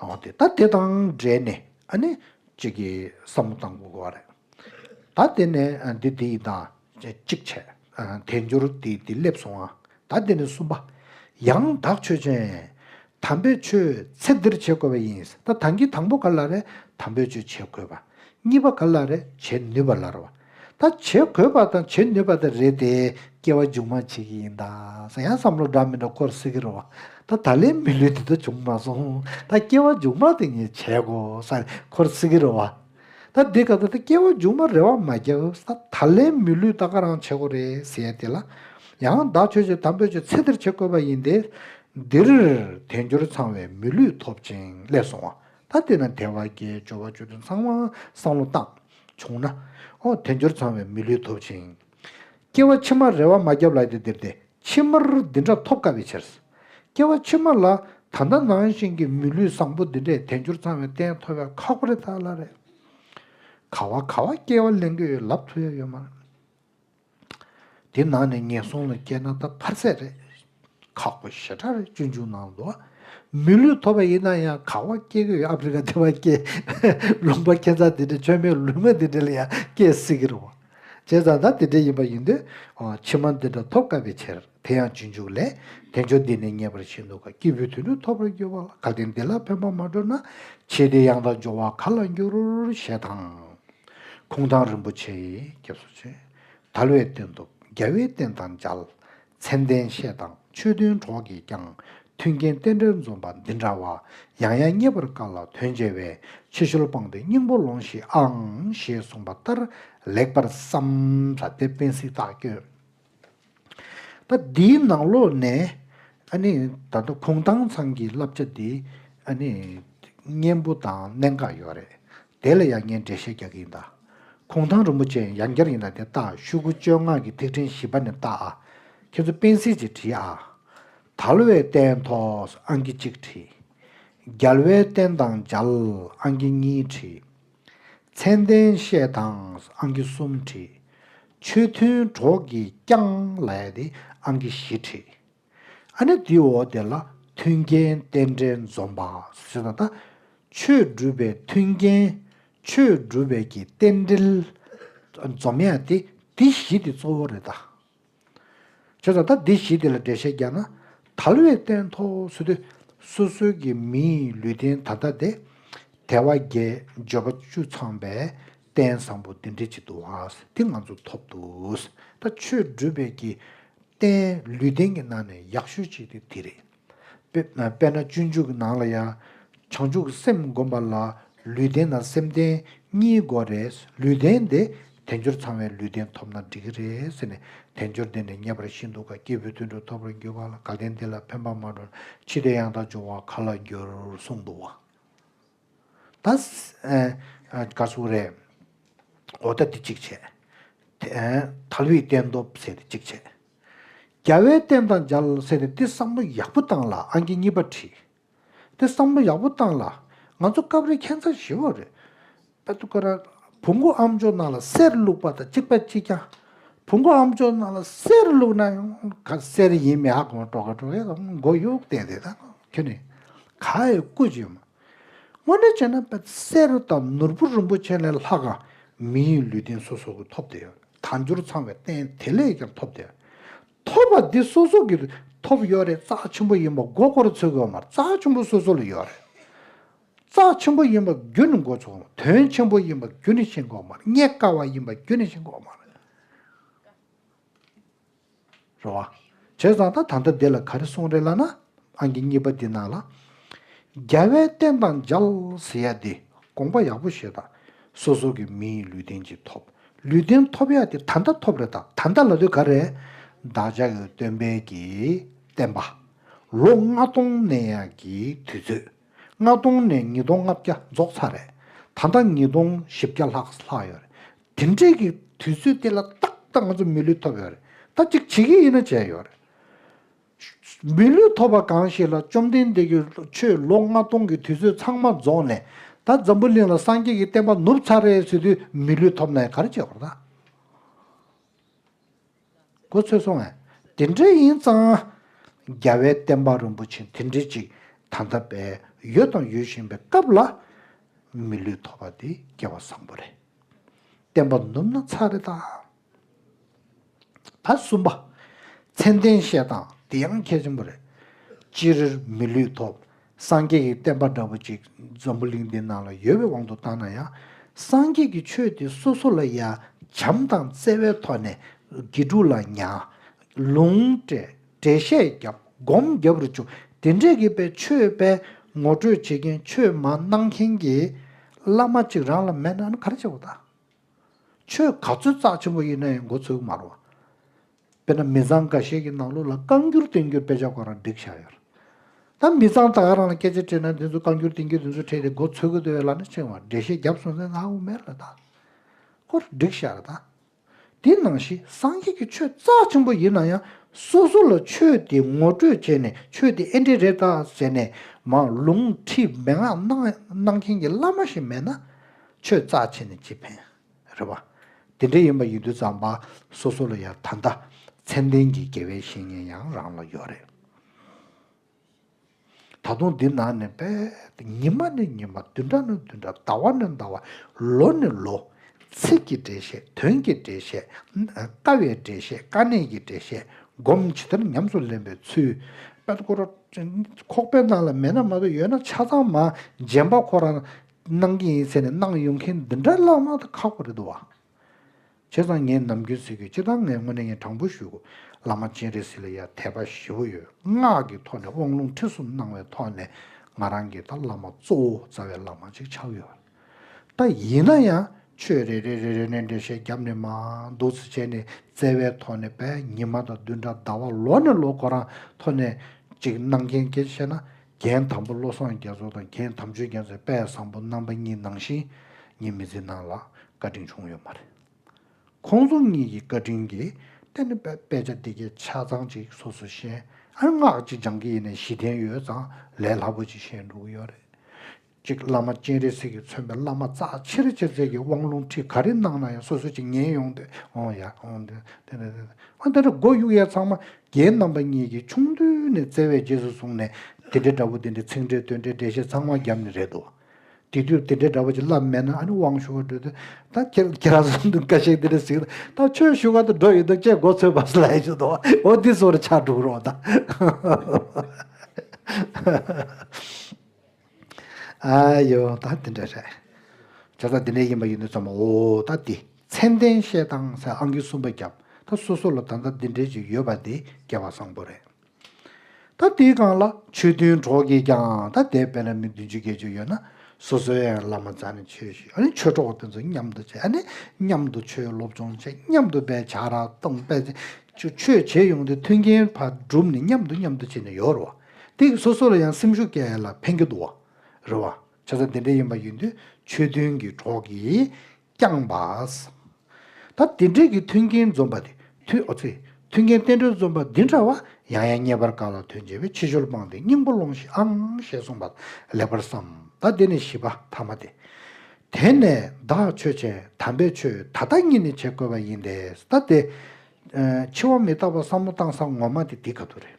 འོ་དེ་ད་དེ་དང་འབྲེལ་ནས་ཨ་ནི་གཅིག་གི་བསམ་བློ་བཏང་དགོས་བ་རེད། ད་དེ་ནས་འདི་དེ་ཡི་དང་གཅིག་བྱས། དལ་འབྱོར་དེ་དེ་སླེབས་སོང་ཨ། ད་དེ་ནས་གསུམ་པ། ཡང་བདག་ཆོས་ཅན། དམ་པའི་ཆོས་ཚེ་འདིར་བྱེད་དགོས་བ་ཡིན། ད་དང་གི་དང་པོ་ག་ལ་རེད་དམ་པའི་ཆོས་བྱེད་དགོས་བ། གཉིས་པ་ག་ལ་རེད་བྱེད་ནུས་བ་ལར་བ། ད་བྱེད་དགོས་པ་དང་བྱེད་ནུས་པ་དེ་རེད་དེ་སྐྱེ་བ་མཇུག་མ་བྱེད་ཀྱི་ཡིན་ད་ས་ཡང་བསམ་བློ་འདྲ་མི་འདྲ་སྐོར་སེ་གི་རོ་ད་ད་ལན་མི་ལུས་དེ་ད་བྱུང་མ་སོང་ད་སྐྱེ་བ་མཇུག་མ་དེ་ངས་བྱེད་དགོས་ས་འཁོར་སེ་གི་རོ་བ་ད་འདི་ག་ད་ད་སྐྱེ་བ་མཇུག་མ་རེ་བ་མ་རྒྱབ་ས་ད་ལན་མི་ལུས་ད་ག་རང་བྱེད་དགོས་རེད་ཟེར་དེ་ལ་ཡང་ད་ཆོས་ཆོས་དམ་པོས་ཆོས་ཚེ་འདིར་བྱེད་དགོས་པ་ཡིན་དེ་འདིར་དལ་འབྱོར་ཚང་བའི་མི་ལུས་ཐོབ་ཅིང་སླེབས་སོང་བ། ད་ལྟོས་ན་དེ་བར་གྱི་སྦྱོར་བ་བཅུ་དོན་ཚང་མ་བསམ་བློ་བཏང། བྱུང་ན། ཨོ་དལ་འབྱོར་ཚང་བའི་མི་ལུས་ཐོབ་ཅིང། སྐྱེ་བ་ཕྱི་མར་རེ་བ་མ་བརྒྱབ་ལགས་ཏེ་འདིར་དེ་ཕྱི་མར་འདི་འདྲ་ཐོབ་དཀའ་བའི་ཕྱིར། སྐྱེ་བ་ཕྱི་མ་ལ་ད་ལྟ་ནང་བཞིན་གྱི་མི་ལུས་བཟང་པོ་འདི་འདྲས་དལ་འབྱོར་ཚང་བའི་རྟེན་ཐོབ་ཡག་ཁག་པོ་རེད་ད་ལ་རེད། ག་བ་ག་བ་སྐྱེ་བ་གླེང་གི་ཡོད་ལབ་ཐུབ་ཡག་ཡོད་མ་རེད། དེ་ནང་ནས་ངན་སོང་ལ་སྐྱེས་ན་ད་ཕར་ཟད་རེད། ཁག་པོ་ཞེ་དྲག་རེད་སྤྱོད་འཇུག་ནང་ལོག། མི་ལུས་ཐོབ་པ་ཡིན་ན་ཡང་ག་བ་སྐྱེས་གི་ཡོད་ཨ་ཕི་རི་ཀ་དེ་བ་སྐྱེས། ལུང་པ་ཁྱེད་ཚང་དེ་འདྲའི་ཆོས་མེད་ལུས་མེད་དེ་འདྲ་ལ་ཡང་སྐྱེས་སྲིད་གི་རེད་བ། བྱས་ཙང་ད་དེ་འདྲ་ཡིན་པ་ཡིན་དུས། ཕྱི་མ་འདི་འདྲ་ཐོབ་དཀའ་བའི་ཕྱིར། དེ་ཡང་རྗེས་འཇུག་ལས། དལ་འབྱོར་འདི་ནི་ཉེས་པར་བྱས་འདུག་ག་སྐྱེས་བུའི་དུད་འགྲོ་ཐོབ་པར་འགྱུར་བ་ལ་གལ་ཏེ་འདི་ལ་ཕན་པ་མ་སྤྲོད་ན། ཕྱིས་དེ་ཡང་དག་འབྱོར་བ་ག་ལ་འགྱུར། ཞེས་དང། གུང་ཐང་རིན་པོ་ཆེ་ཡིས་སྐྱབས་སུ་མཆི། དལ་བའི་སྟོན་དུ་རྒྱལ་བའི་བསྟན་དང་མཇལ། མཚན་ལྡན་བཤེས་དང་ཆོས་མཐུན་གྲོགས་ཀྱིས་ཀྱང། མཐུན་རྐྱེན་རྟེན་འབྲེལ་འཛོམས་པ་འདི་འདྲ་བ། ཡང་ཡང་རྙེད་པར་དཀའ་ལ་དོན་མཇལ་བས། ཕྱི་ཤུལ་སྤངས་ཏེ་སྙིང་པོ་ལོངས་ཤིག་ཨང། ཞེས་གསུངས་པ་ལྟར་ལེགས་པར་བསམ། ལྷ་སྡེ་དཔོན་སྲིད་རྟག་སྐྱོན། ད་འདིའི་ནང་ལོགས་ནས་ཨ་ནི་ད་ལྟ་ཁུངས་དྭངས་ཚང་གི་བསླབ་བྱ་འདི་ཨ་ནི་སྙན་པོ་དང་གནད་འགག་ཡོད་རེད་དེ་ལ་ཡང་ངས་འགྲེལ་བཤད་རྒྱག་གི་ཡིན་ད། ཁུངས་དྭངས་རིན་པོ་ཆེ་ཡང་ཡང་བསྐྱར་ཡིན་ད་དེ་ལྟ་ཤུ་གུ་བཅོ་ལྔ་གི་ཐིག་ཕྲེང་བཞི་པ་ནས་བལྟ་ཨ། ཁྱེད་ཚོ་སྤེན་སེ་ཅིག་བྲིས་ཨ། དལ་བའི་རྟེན་ཐོགས་ཨང་ཀི་གཅིག་བྲིས། རྒྱལ་བའི་རྟེན་དང་འཇལ་ཨང་ཀི་གཉིས་བྲིས། མཚན་ལྡན་བཤད་དང་ཨང་ཀི་གསུམ་བྲིས། ཆོས་མཐུན་གྲོགས་ཀྱིས་བསྐྱངས་ལ་དེ་ཨང་ཀི་བཞི་བྲིས། ཨ་ནི་དེ་འོག་དེ་ལ་མཐུན་རྐྱེན་རྟེན་འབྲེལ་འཛོམས་པ་སོ་ད་ད། ཆོས་སྒྲུབ་པའི་མཐུན་རྐྱེན། ཆོས་སྒྲུབ་པའི་ཀྱི་རྟེན་འབྲེལ། འཛོམས་ཡས་དེ་དེ་བཞི་དེ་གཙོ་བོ་རེད་ད། བྱས་ཙང་ད་འདི་ཞིག་དེ་ལ་འགྲེལ་བཤད་རྒྱག་ན། དལ་བའི་སྟན་ཐོག་ཚུད་དུས་སོ་སོའི་གི་མིའི་ལུས་རྟེན་ད་ལྟ་དེ། དལ་བ་བརྒྱད་འབྱོར་པ་བཅུ་ཚང་པའི་སྟན་བཟང་པོ་འདི་འདྲི་གཅིག་འདུག་ཨ། དེ་ང་ཚོ་ཐོབ་འདུག་ད་ཆོས་སྒྲུབ་པའི་གི་སྟན་ལུས་རྟེན་གི་ནང་ནས་ཡག་ཤོས་གཅིག་དེ་དེ་རེད། དཔེར་ན་སྤྱོད་འཇུག་ནང་ལ་ཡང། བྱང་ཆུབ་སེམས་བསྒོམ་པ་ལ་ལུས་བརྟན་དང་སེམས་བརྟན་གཉིས་དགོས་རེད། ལུས་བརྟན་དེ་དལ་འབྱོར་ཚང་བའི་ལུས་བརྟན་ཐོབ་ན་འགྲིག་གི་རེད་ཟེར་ནས་དལ་འབྱོར་འདི་ནས་རྙེད་པར་ཤིན་ཏུ་དགའ་སྐྱེས་བུ་དུད་འགྲོ་ཐོབ་པར་འགྱུར་བ་ལ་དགའ་ལྡན་འདི་ལ་ཕན་པ་མ་འགྲོ་ན་འཆི་ལྟས་ཡང་དག་འབྱུང་བ་ག་ལ་འགྱུར་གསུངས་འདུག་བ། ད་ག་སུ་རེད། འོ་ད་འདི་གཅིག་བྱས། དལ་བུས་བསྟན་ཐོབ་ཟེར་ཏེ་གཅིག་བྱས། རྒྱལ་བའི་བསྟན་དང་སྦྱར་ལ་ཟེར་ཏེ་འདི་བསམ་བློ་ཡག་པོ་བཏང་ལ་ཨང་ཀི་གཉིས་པ་བྲིས། འདི་བསམ་བློ་ཡག་པོ་བཏང་ལ། ང་ཚོ་སྐབས་རེ་ཁྱད་མཚར་ཞི་བོ་རེད། པད་དུ་ཀ་ར། བུ་མགོ་ཨམ་ཅོག་ནང་ལ་གསེར་བླུགས་པ་དང་གཅིག་པད་གཅིག་རྐྱང། བུ་མགོ་ཨམ་ཅོག་ནང་ལ་གསེར་བླུགས་ན་ཡང་ག་གསེར་ཡིན་མི་ཨ་གོང་སྤྲོ་ག་སྤྲོ་ཡ་ཨང་མགོ་གཡུག་བསྟན་དེ་དང་ཁྱོད་ནི་ག་ཡི་སྐུ་བྱེད་མ། དངོས་གནས་བྱས་ན་པད་གསེར་དང་ནོར་བུ་རིན་པོ་ཆེ་ལས་ལྷག་ག་མི་ཡི་ལུས་རྟེན་སོ་སོ་གི་ཐོབ་དེ་ཡོད། དལ་འབྱོར་ཚང་བའི་རྟེན་དེ་ལས་ཀྱང་ཐོབ་སྟེ། ཐོབ་པ་འདི་སོ་སོ་གིས་ཐོབ་ཡོད་རེད་རྩ་ཆེན་པོ་ཡིན་པ་མགོ་སྐོར་ཚུལ་གྱི་འོག་མར་རྩ་ཆེན་པོ་སོ་སོ་ལ་ཡོད་རེད། རྩ་ཆེན་པོ་ཡིན་པ་རྒྱུ་ནི་མགོ་ཚུགས་འོག་མར་དོན་ཆེན་པོ་ཡིན་པ་རྒྱུ་ནི་ཤིང་གི་འོག་མར་རྙེད་དཀའ་བ་ཡིན་པ་རྒྱུ་ནི་ཤིང་གི་འོག་མར། རེད། བྱས་ཙང་ད་ད་ལྟ་འདི་ལ་ག་རེ་གསུངས་རེད་ལབ་ན། ཨང་ཀི་གཉིས་པ་འདི་ནང་ལ། རྒྱ་བལ་བསྟན་དང་འཇལ་ཟེར་ཡ་དེ་དགོངས་པ་ཡག་པོ་བཞེས་དང། སོ་སོ་གི་མི་ཡི་ལུས་རྟེན་ཅིག་ཐོབ། ལུས་རྟེན་ཐོབ་ཡ་དེ་ད་ལྟ་ཐོབ་རེད་ད་ད་ལྟ་ལ་དུས་ག་རེ། བདག་ཅག་གི་སྟོན་པས་ཀྱི་བསྟན་པ། ལོ་ལྔ་སྟོང་ནས་ཡ་ཀྱི་དུས་ཚོད། ལྔ་སྟོང་ནས་ཉིས་སྟོང་ལྔ་བརྒྱ་རྫོགས་ཚར་རེད། ད་ལྟ་ཉིས་སྟོང་བཞི་བརྒྱ་ལྷག་ལྷག་ཡོད་རེད། དེ་འདྲས་ཀྱི་དུས་ཚོད་དེ་ལ་ཏག་ཏག་ང་ཚོ་མི་ལུས་ཐོབ་ཡོད་རེད་ད་གཅིག་བྱེད་ཀྱི་ཡིན་ན་བྱས་ཡོད་རེད། མི་ལུས་ཐོབ་པ་གང་ཞིག་ལ་བཅོམ་ལྡན་འདས་ཀྱི་ཆོས་ལོ་ལྔ་སྟོང་གི་དུས་ཚོད་ཚང་མ་རྫོགས་ནས་ད་འཛམ་བུ་གླིང་ལ་སངས་རྒྱས་ཀྱི་བསྟན་པ་ནུབ་ཚར་རེད་ཟེར་དུས་མི་ལུས་ཐོབ་ན་ག་རེ་བྱེད་དགོས་རེད་ད། གོ་ཚོད་སོང་བས། དེ་འདྲའི་ཡིན་ཙང། རྒྱ་བལ་བསྟན་པ་རིན་པོ་ཆེ་དེ་འདྲའི་ཅིག་ད་ལྟ་བས་ཡོད་དང་ཡོད་བཞིན་པའི་སྐབས་ལ། མི་ལུས་ཐོབ་པ་དེ་སྐལ་བ་བཟང་པོ་རེད། བསྟན་པ་ནུབ་ན་ཚར་རེད་ད། ད་གསུམ་པ། མཚན་ལྡན་བཤད་སྟངས་དེ་ཡང་གལ་ཆེན་པོ་རེད། ཅི་རིར་མི་ལུས་ཐོབ། སངས་རྒྱས་ཀྱི་བསྟན་པ་འདྲ་བོ་ཅིག་འཛམ་བུ་གླིང་འདིའི་ནང་ལ་ཡོད་པའི་དབང་དུ་བཏང་ན་ཡང། སངས་རྒྱས་ཀྱི་ཆོས་དེ་སོ་སོ་ལ་ཡ་བྱམས་དང་བརྩེ་བའི་ཐོག་ནས་དགེ་ཕྲུག་ལ་གཉའ། ལུང། འགྲེལ་བཤད་བརྒྱབ་སྒོམ་བརྒྱབ་རུ་ཆུ་དེ་འདྲས་ཀྱི་པའི་ཆོས་དཔལ་ངོ་སྤྲོད་བྱེད་མཁན་ཆོས་མ་གནང་མཁན་གྱི་བླ་མ་ཅིག་རང་ལ་མེད་ན་ག་རེ་བྱེད་པ་ད། ཆོས་ག་ཚོད་རྩག་ཆེན་པོ་ཡིན་ན་ཡང་འགོ་ཚུགས་མ་རུང། དཔེར་ན་མི་ཚང་འགའ་ཤས་ཀྱི་ནང་ལུགས་ལ་རྐང་འགྱུར་བསྟན་འགྱུར་དཔེ་ཆ་གང་རང་བསྒྲིགས་བཞག་ཡོད། ད་མི་ཚང་དག་རང་ལ་སྐད་ཆ་སྤྲད་ན་དེ་ཚོ་རྐང་འགྱུར་བསྟན་འགྱུར་དེ་ཚོ་ཕྲད་དེ་འགོ་འཚོས་གི་འདུག་ཡོད་ལབ་ན་ཕྱིན་བར་འགྲེལ་བཤད་རྒྱབ་སོང་ཟེར་ན་དབུ་མེད་རེད་ད། ཁོ་རང་བསྒྲིགས་བཞག་གི་ད། དེ་ནང་བཞིན་སངས་རྒྱས་ཀྱི་ཆོས་རྩ་ཆེན་པོ་ཡིན་ན་ཡང་སོ་སོ་ལ་ཆོས་དེ་ངོ་སྤྲོད་བྱས་ནས་ཆོས་དེ་ཨེ་འདྲེ་རེད་ད་ཟེར་ནས་མང་ལུང་ཁྲིད་མན་ངག་གནང་མཁན་གྱི་བླ་མ་ཞིག་མེད་ན་ཆོས་རྩ་ཆེ་ནས་ཅི་ཕན། རེད་བ། དེ་འདྲའི་ཡིན་པ་ཡིན་དུས་ཙམ་པ་སོ་སོ་ལ་ཡང་ད་ལྟ་མཚན་ལྡན་གྱི་དགེ་བའི་བཤེས་གཉེན་ཡང་རང་ལ་ཡོད་རེད། ད་དུང་འདི་ན་ནི་དཔེ། ཉི་མ་ནི་ཉི་མ་བདུན་ཕྲག་ནི་བདུན་ཕྲག་ཟླ་བ་ནི་ཟླ་བ་ལོ་ནི་ལོ། ཚིག་གི་འགྲེལ་བཤད་དོན་གྱི་འགྲེལ་བཤད། ལྟ་བའི་འགྲེལ་བཤད་དཀའ་གནད་ཀྱི་འགྲེལ་བཤད་སྒོམ་ཇི་ལྟར་ཉམས་སུ་ལེན་པའི་ཚུལ། ཁོག་པའི་ནང་ལ་མེད་ན་མ་གཏོགས་ཡོད་ན་ཆ་ཚང་མ་རྗེན་པ་ཁོ་རང། གནང་གི་ཡིན་ཟེར་ནས་གནང་ཡོང་མཁན་འདི་འདྲ་བླ་མ་དང་ཁག་པོ་རེད་འདུག་བ། བྱས་ཙང་ངས་ནམ་རྒྱུན་ཟེར་གི་སྤྱིར་བཏང་ངས་དངོས་གནས་ངས་དྲང་པོ་ཞུ་གོ། བླ་མ་སྤྱན་རས་གཟིགས་ལ་ཡ་དད་པ་ཞེ་བོ་ཡོད་སྔགས་ཀྱི་ཐོག་ནས་དབང་ལུང་ཁྲིད་གསུམ་གནང་བའི་ཐོག་ནས་ང་རང་གིས་ད་བླ་མ་གཙོ་བོ་རྩ་བའི་བླ་མ་ཅིག་ཆགས་ཡོད་བ། ད་ཡིན་ན་ཡང་ཆོས་རེ་རེ་རེ་རེ་ནས་འགྲེལ་བཤད་བརྒྱབ་ནས་མ་འདུག་ཚེ་བྱས་ནས་བཙལ་བའི་ཐོག་ནས་བས་ཉི་མ་དང་བདུན་ཕྲག་ཟླ་བ་ལོ་ནས་ལོ་འགོ་རང་ཐོག་ནས་ཅིག་གནང་མཁན་གྱི་བཤད་ན་རྒྱན་དམ་པོ་བློ་བཟང་རྒྱ་མཚོ་དང་རྒྱན་དམ་ཆོས་རྒྱ་མཚོའི་དཔལ་བཟང་པོ་རྣམ་པ་གཉིས་ནང་བཞིན་ངེད་མི་ཚེའི་ནང་ལ་བཀའ་དྲིན་བྱུང་ཡོད་མ་རེད། ཁོང་ཚོ་གཉིས་ཀྱི་བཀའ་དྲིན་གྱིས་བརྟེན་ནས་དཔེ་ཆ་འདི་གའི་ཆ་ཚང་ཅིག་སོ་སོས་ཤེས་ཨང་སྔགས་ཅིག་སྦྱང་གི་ཡེ་ནས་བཞི་ལྡན་ཡོད་ཙང་ལས་སླ་པོ་ཅིག་ཤེས་འགྲོ་གི་ཡོད་རེད། གཅིག་བླ་མ་སྤྱན་རས་གཟིགས་ཀྱིས་མཚོན་པའི་བླ་མ་རྩ་ཆེར་ཆེར་བྱས་ཀྱི་དབང་ལུང་ཁྲིད་ག་རེ་གནང་ན་ཡང་སོ་སོ་ཅིག་ཉན་ཡོང་སྟེ། འོང་ཡ། འོང། དེ་འདྲ་དེ་འདྲ། ཨ་དེ་འདྲ་སྒོ་དབྱུག་ཡས་ཚང་མ་རྒྱའི་རྣམ་པ་གཉིས་ཀྱིས་ཆུང་དུས་ནས་བརྩེ་བས་རྗེས་སུ་བཟུང་ནས་དེ་འདྲའི་འདྲ་པོ་དེ་འདྲའི་ཚིག་འགྲེལ་དོན་འགྲེལ་འགྲེལ་བཤད་ཚང་མ་བརྒྱབ་ནི་རེད་དོ། དེ་དུས་དེ་འདྲའི་འདྲ་པོ་ཅིག་བསླབས་མེད་ན་ཨ་ནི་དབང་ཞུ་བར་འགྲོ་དུས་ད་ཁྱེད་ཁྱེད་རང་ཚོ་འདུག་ཀ་ཤེས་འདི་འདྲ་ཟིག་ལ་ད་ཆོས་བཞུགས་ག་ཚོད་འགྲོ་ཡི་འདུག་ཅེས་མགོ་ཚོས་པར་ལས་ཆོད་དོ། འོ་འདི་ཚོར་ཕྱག་དྲུག་རོགས་ད། ཨ་ཡོ་ད་འདི་འདྲ་རེད། བྱ་ཚ་འདི་འདྲ་ཡིན་པ་ཡིན་ནོ་ཙམ་མ་འོ་ད་འདི་མཚན་ལྡན་བཤད་སྟངས་སེ་ཨང་ཀི་གསུམ་པ་རྒྱབ་ད་སོ་སོ་ལ་ད་ལྟ་འདི་འདྲ་ཅིག་ཡོད་པ་འདི་རྒྱལ་བ་བཟང་པོ་རེད། ད་འདིའི་སྒང་ལ་ཆོས་མཐུན་གྲོགས་ཀྱིས་ཀྱང་ད་འདས་དཔལ་ལ་མི་བདུན་ཅུ་བརྒྱད་ཅུ་ཡོད་ན་སོ་སོའི་ཡང་བླ་མ་བཙལ་ནས་ཆོས་ཞུས་ཨ་ནི་ཆོས་གྲོགས་དེ་ཚོ་མཉམ་དུ་བྱས་ཨ་ནི་མཉམ་དུ་ཆོས་སློབ་སྦྱོང་བྱས་མཉམ་དུ་པའི་བྱ་ར་གཏོང་པས་ཆོས་བྱེད་ཡོང་དུས་མཐུན་རྐྱེན་བགྲུབ་ནས་མཉམ་དུ་མཉམ་དུ་བྱས་ནས་ཡོད་རོ། ཏིག་སོ་སོ་ལ་ཡང་སེམས་ཤུགས་བསྐྱེད་ལ་ཕན་གྱི་འདུག་རེད་བ། ཆོས་ཚང་དེ་འདྲ་ཡིན་པ་ཡིན་དུས་ཆོས་མཐུན་གྱི་གྲོགས་ཀྱིས་བསྐྱངས་པ། ད་དེ་འདྲས་ཀྱི་མཐུན་རྐྱེན་འཛོམས་པ་དེ་དུས་ཨོ་ཚེ། མཐུན་རྐྱེན་བསྟན་འགྲོའི་འཛོམས་པ་འདི་འདྲ་བ་ཡང་ཡང་རྙེད་པར་དཀའ་ལ་དོན་བྱེད་པའི་ཕྱི་ཤོལ་སྤངས་ཏེ་སྙིང་པོ་སློང་ཤིག་ཨང་ཞེས་གསུངས་པ་ལེགས་པར་བསམ། ད་འདི་ནས་བཞི་པ་ཐ་མ་སྟེ། དེ་ནས་བདག་ཆོས་ཅན་དམ་པའི་ཆོས་ད་ལྟ་གཉིས་ནི་བྱེད་དགོས་པ་ཡིན་ཏེ། ད་དེ། འཆི་བ་མི་རྟག་པ་བསམ་བློ་བཏང་ས་ངོ་མ་དེ་འདི་ག་དུ་རེད།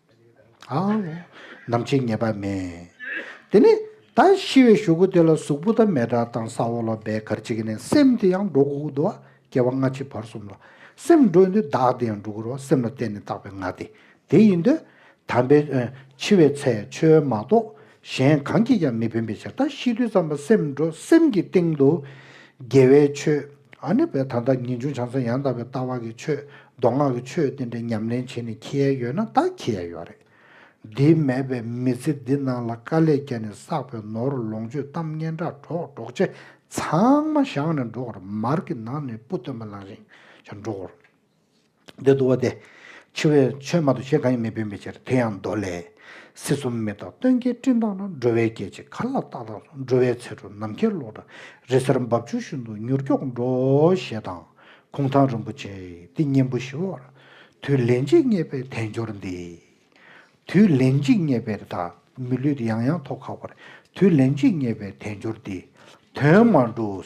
ནམ་ཕྱེད་ངེས་པ་མེད། དེ་ནས་ད་ཤི་བའི་ཞོ་ཁུ་དེ་ལ་གཟུགས་པོ་དང་མེ་དྲ་དང་ས་འོག་ལ་སྦས་གར་བྱེད་ཀྱི་ནས་སེམས་དེ་ཡང་འགྲོ་གུག་དུ་བ་སྐྱེ་བ་སྔ་ཕྱི་བར་གསུམ་ལ་སེམས་འགྲོ་ཡིན་དུས་བདག་དེ་ཡང་འགྲོ་གུར་བ་སེམས་ལ་བརྟེན་ནས་བཏགས་པའི་ངག་དེ་དེ་ཡིན་དུས། དམ་པའི། འཆི་བའི་ཚེ་ཆོས་མ་རྟོགས། གཞན་གང་གིས་ཀྱང་མི་ཕན་པའི་ཕྱིར་དང་ཤིན་ཏུ་བརྩམས་པ་སེམས་འགྲོ་སེམས་ཀྱི་སྟེང་དུ། དགེ་བའི་ཆོས། ཨ་ནི་བས་ད་ལྟ་ངེས་འབྱུང་བྱང་སེམས་ཡང་དག་པའི་ལྟ་བ་གི་ཆོས་མདོ་སྔགས་ཀྱི་ཆོས་དེ་འདྲ་ཉམས་ལེན་བྱེད་ནས་ཁྱི་ཡལ་ཡོད་ན་ད་ཁྱི་ཡལ་ཡོད་རེད། འདི་མེད་པའི་མི་ཚེ་འདི་ནང་ལ་དཀའ་ལས་བརྒྱ་ནས་བསགས་པའི་ནོར་ལོངས་སྤྱོད་གཏམ་སྙན་གྲགས་གྲོགས་གྲོགས་མཆེ་ཚང་མ་བཞག་ནས་འགྲོ་གོ་རེ་མར་གི་ནང་ནས་སྤུ་སྟོན་པ་ལང་ཞིང་ཞིང་འགྲོ་གོ་རེ། འདི་དུ་བ་སྟེ། འཆི་བའི་ཆོས་མ་དོ་ཞེས་གང་ཡིན་མི་བུད་མི་ཕྱིར་དེ་ཡང་མདོ་ལས། སྲིད་གསུམ་མི་རྟག་སྟོན་ཀའི་སྤྲིན་དང་ན་འགྲོ་བའི་སྐད་ཅིག་གར་ལ་ཏག་ཏག་སོང་འགྲོ་བའི་ཚེ་འགྲོ་ནམ་མཁའི་གློག་འདྲ་རི་སེར་འབབ་ཆུ་ཤུན་ཏུ་མྱུར་མགྱོགས་འགྲོ་ཞེས་དང། གུང་ཐང་རིན་པོ་ཆེ་འདི་སྙིང་པོ་ཞི་བར་དུས་ལན་གཅིག་བརྙེས་པའི་དལ་འབྱོར་འདི། དུས་ལན་གཅིག་རྙེད་པའི་བདག། མི་ལུས་ཡང་ཡང་ཐོག་ཁ་བར། དུས་ལན་གཅིག་རྙེད་པའི་དལ་འབྱོར་འདི། དོན་མ་འགྲུབ།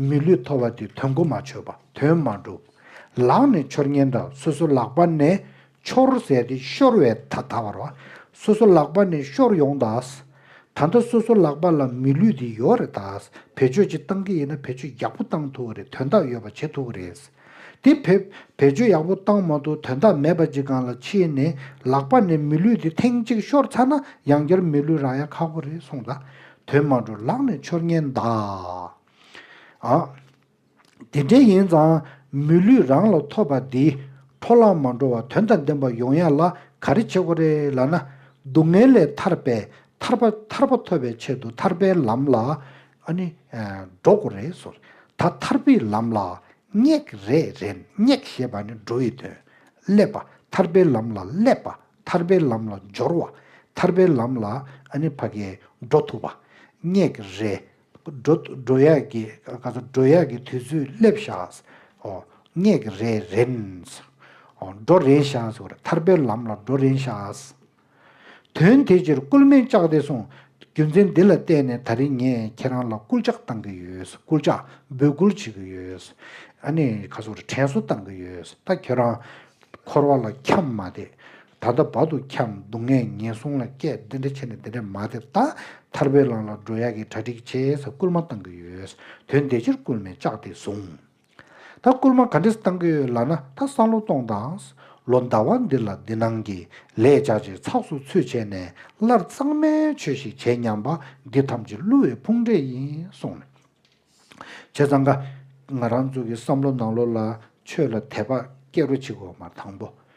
མི་ལུས་ཐོ་བ་འདི་དོན་གོ་མ་ཆོད་པ་དོན་མ་འགྲུབ། ལག་ནས་འཆོར་ཉེན་དང་སོ་སོ་ལག་པ་ནས་འཆོར་ཟད་དེ་ཤོར་བའི་ད་ལྟ་བར། སོ་སོ་ལག་པ་ནས་ཤོར་ཡོང་ད། ད་ལྟ་སོ་སོ་ལག་པ་ལ་མི་ལུས་འདི་ཡོད་རེད་ད། བེད་སྤྱོད་ཅིག་བཏང་གི་ཡིན་ན་བེད་སྤྱོད་ཡག་པོ་བཏང་ཐུབ་བ་རེད་དོན་དག་ཡོད་པ་བྱེད་ཐུབ་བ་རེད། དེ་བེད་སྤྱོད་ཡག་པོ་བཏང་མ་ཐུབ་དོན་དག་མེད་པ་ཅིག་གང་ལ་ཕྱིན་ནས་ལག་པ་ནས་མི་ལུས་དེ་ཐེངས་གཅིག་ཤོར་ཚར་ན་ཡང་བསྐྱར་མི་ལུས་རང་ཡ་ཁག་པོ་རེད་སོང་ད་དོན་མ་འགྲོ་ལག་ནས་འཆོར་ཉེན་གདའ། ཨ། དེ་འདྲའི་ཡིན་ཙང་མི་ལུས་རང་ལ་ཐོབ་པ་འདིས་འཕྲོ་བརླག་མ་འགྲོ་བར་དོན་དང་ལྡན་པ་ཡོང་ཡ་ལ་ག་རེ་བྱེད་དགོས་རེད་ལ་ན་སྡུག་བསྔལ་ལས་ཐར་པའི་ཐར་པ་ཐར་པ་ཐོབ་པའི་ཆེད་དུ་ཐར་པའི་ལམ་ལ་ཨ་ནི། འགྲོ་དགུ་རེད་ཟོ། ད་ཐར་པའི་ལམ་ལ་སྙེག། རེད་རེད་སྙེག་ཞེས་པ་ནི་འགྲོ་བའི་དོན། སླེབ་པ། ཐར་པའི་ལམ་ལ་སླེབ་པ། ཐར་པའི་ལམ་ལ་སྦྱོར་བ། ཐར་པའི་ལམ་ལ་ཨ་ནི་བྷ་གའི་འགྲོ་ཐུབ་པ། སྙེག། རེད། འགྲོ། ཡག་གི། ཀ་ཚ་འགྲོ་ཡག་གི་དུས་ཚོད་སླེབ་ཤག། ཨོ། སྙེག། རེད་རེད། འགྲོ་རེད་ཤག། ཐར་པའི་ལམ་ལ་འགྲོ་རེད་ཤག། དོན་དེ་ཕྱིར་སྐུལ་མིན་བཅག་སྟེ་སོང། རྒྱུ་མཚན་འདི་ལ་བལྟས་ནས་ད་རིང་ངས་ཁྱེད་རང་ལ་སྐུལ་ལྕག་བཏང་གི་ཡོད། སྐུལ་ལྕག་འབོད་སྐུལ་བྱེད་ཀྱི་ཡོད། ཨ་ནི་ཁ་སོར་དྲན་གསོ་བཏང་གི་ཡོད། ད་ཁྱོད་རང། འཁོར་བ་ལ་འཁྱམས་མ་བསྡད། ད་ལྟ་བར་དུ་འཁྱམས་སྡུག་བསྔལ་ངན་སོང་ལ་སྐད་འདི་འདྲ་བྱས་ནས་འདི་འདྲ་མ་བསྡད། ད་ཐར་པའི་ལམ་ལ་འགྲོ་ཡག་གི་གྲ་སྒྲིག་བྱེད། སྐུལ་མ་བཏང་གི་ཡོད། དོན་དེ་ཕྱིར་སྐུལ་མིན་བཅག་སྟེ་སོང། ད་བསྐུར་མ་ག་འདྲས་བཏང་གི་ཡོད་ལགས་ན་ད་སང་ལོ་སྟོང་དང། ལོ་ཟླ་བ་འདི་ལ་འདི་སྣང་གི་ལས་བྱ་བྱེད་ཚགས་སུ་ཚུད་བྱས་ནས་སླར་གཙང་མའི་ཆོས་ཤིག་བྱེད་སྙམ་པ་འདི་ཐམས་ཅད་བསླུ་བའི་ཕུང་འདྲེ་ཡིན་གསུངས་ནས། བྱས་ཙང་ཀ། ང་རང་ཚོ་གི་བསམ་བློ་ནང་ལོ་ལ་ཆོས་ལ་དད་པ་སྐྱེ་རོ་བྱེད་དགོས་པ་དང་པོ།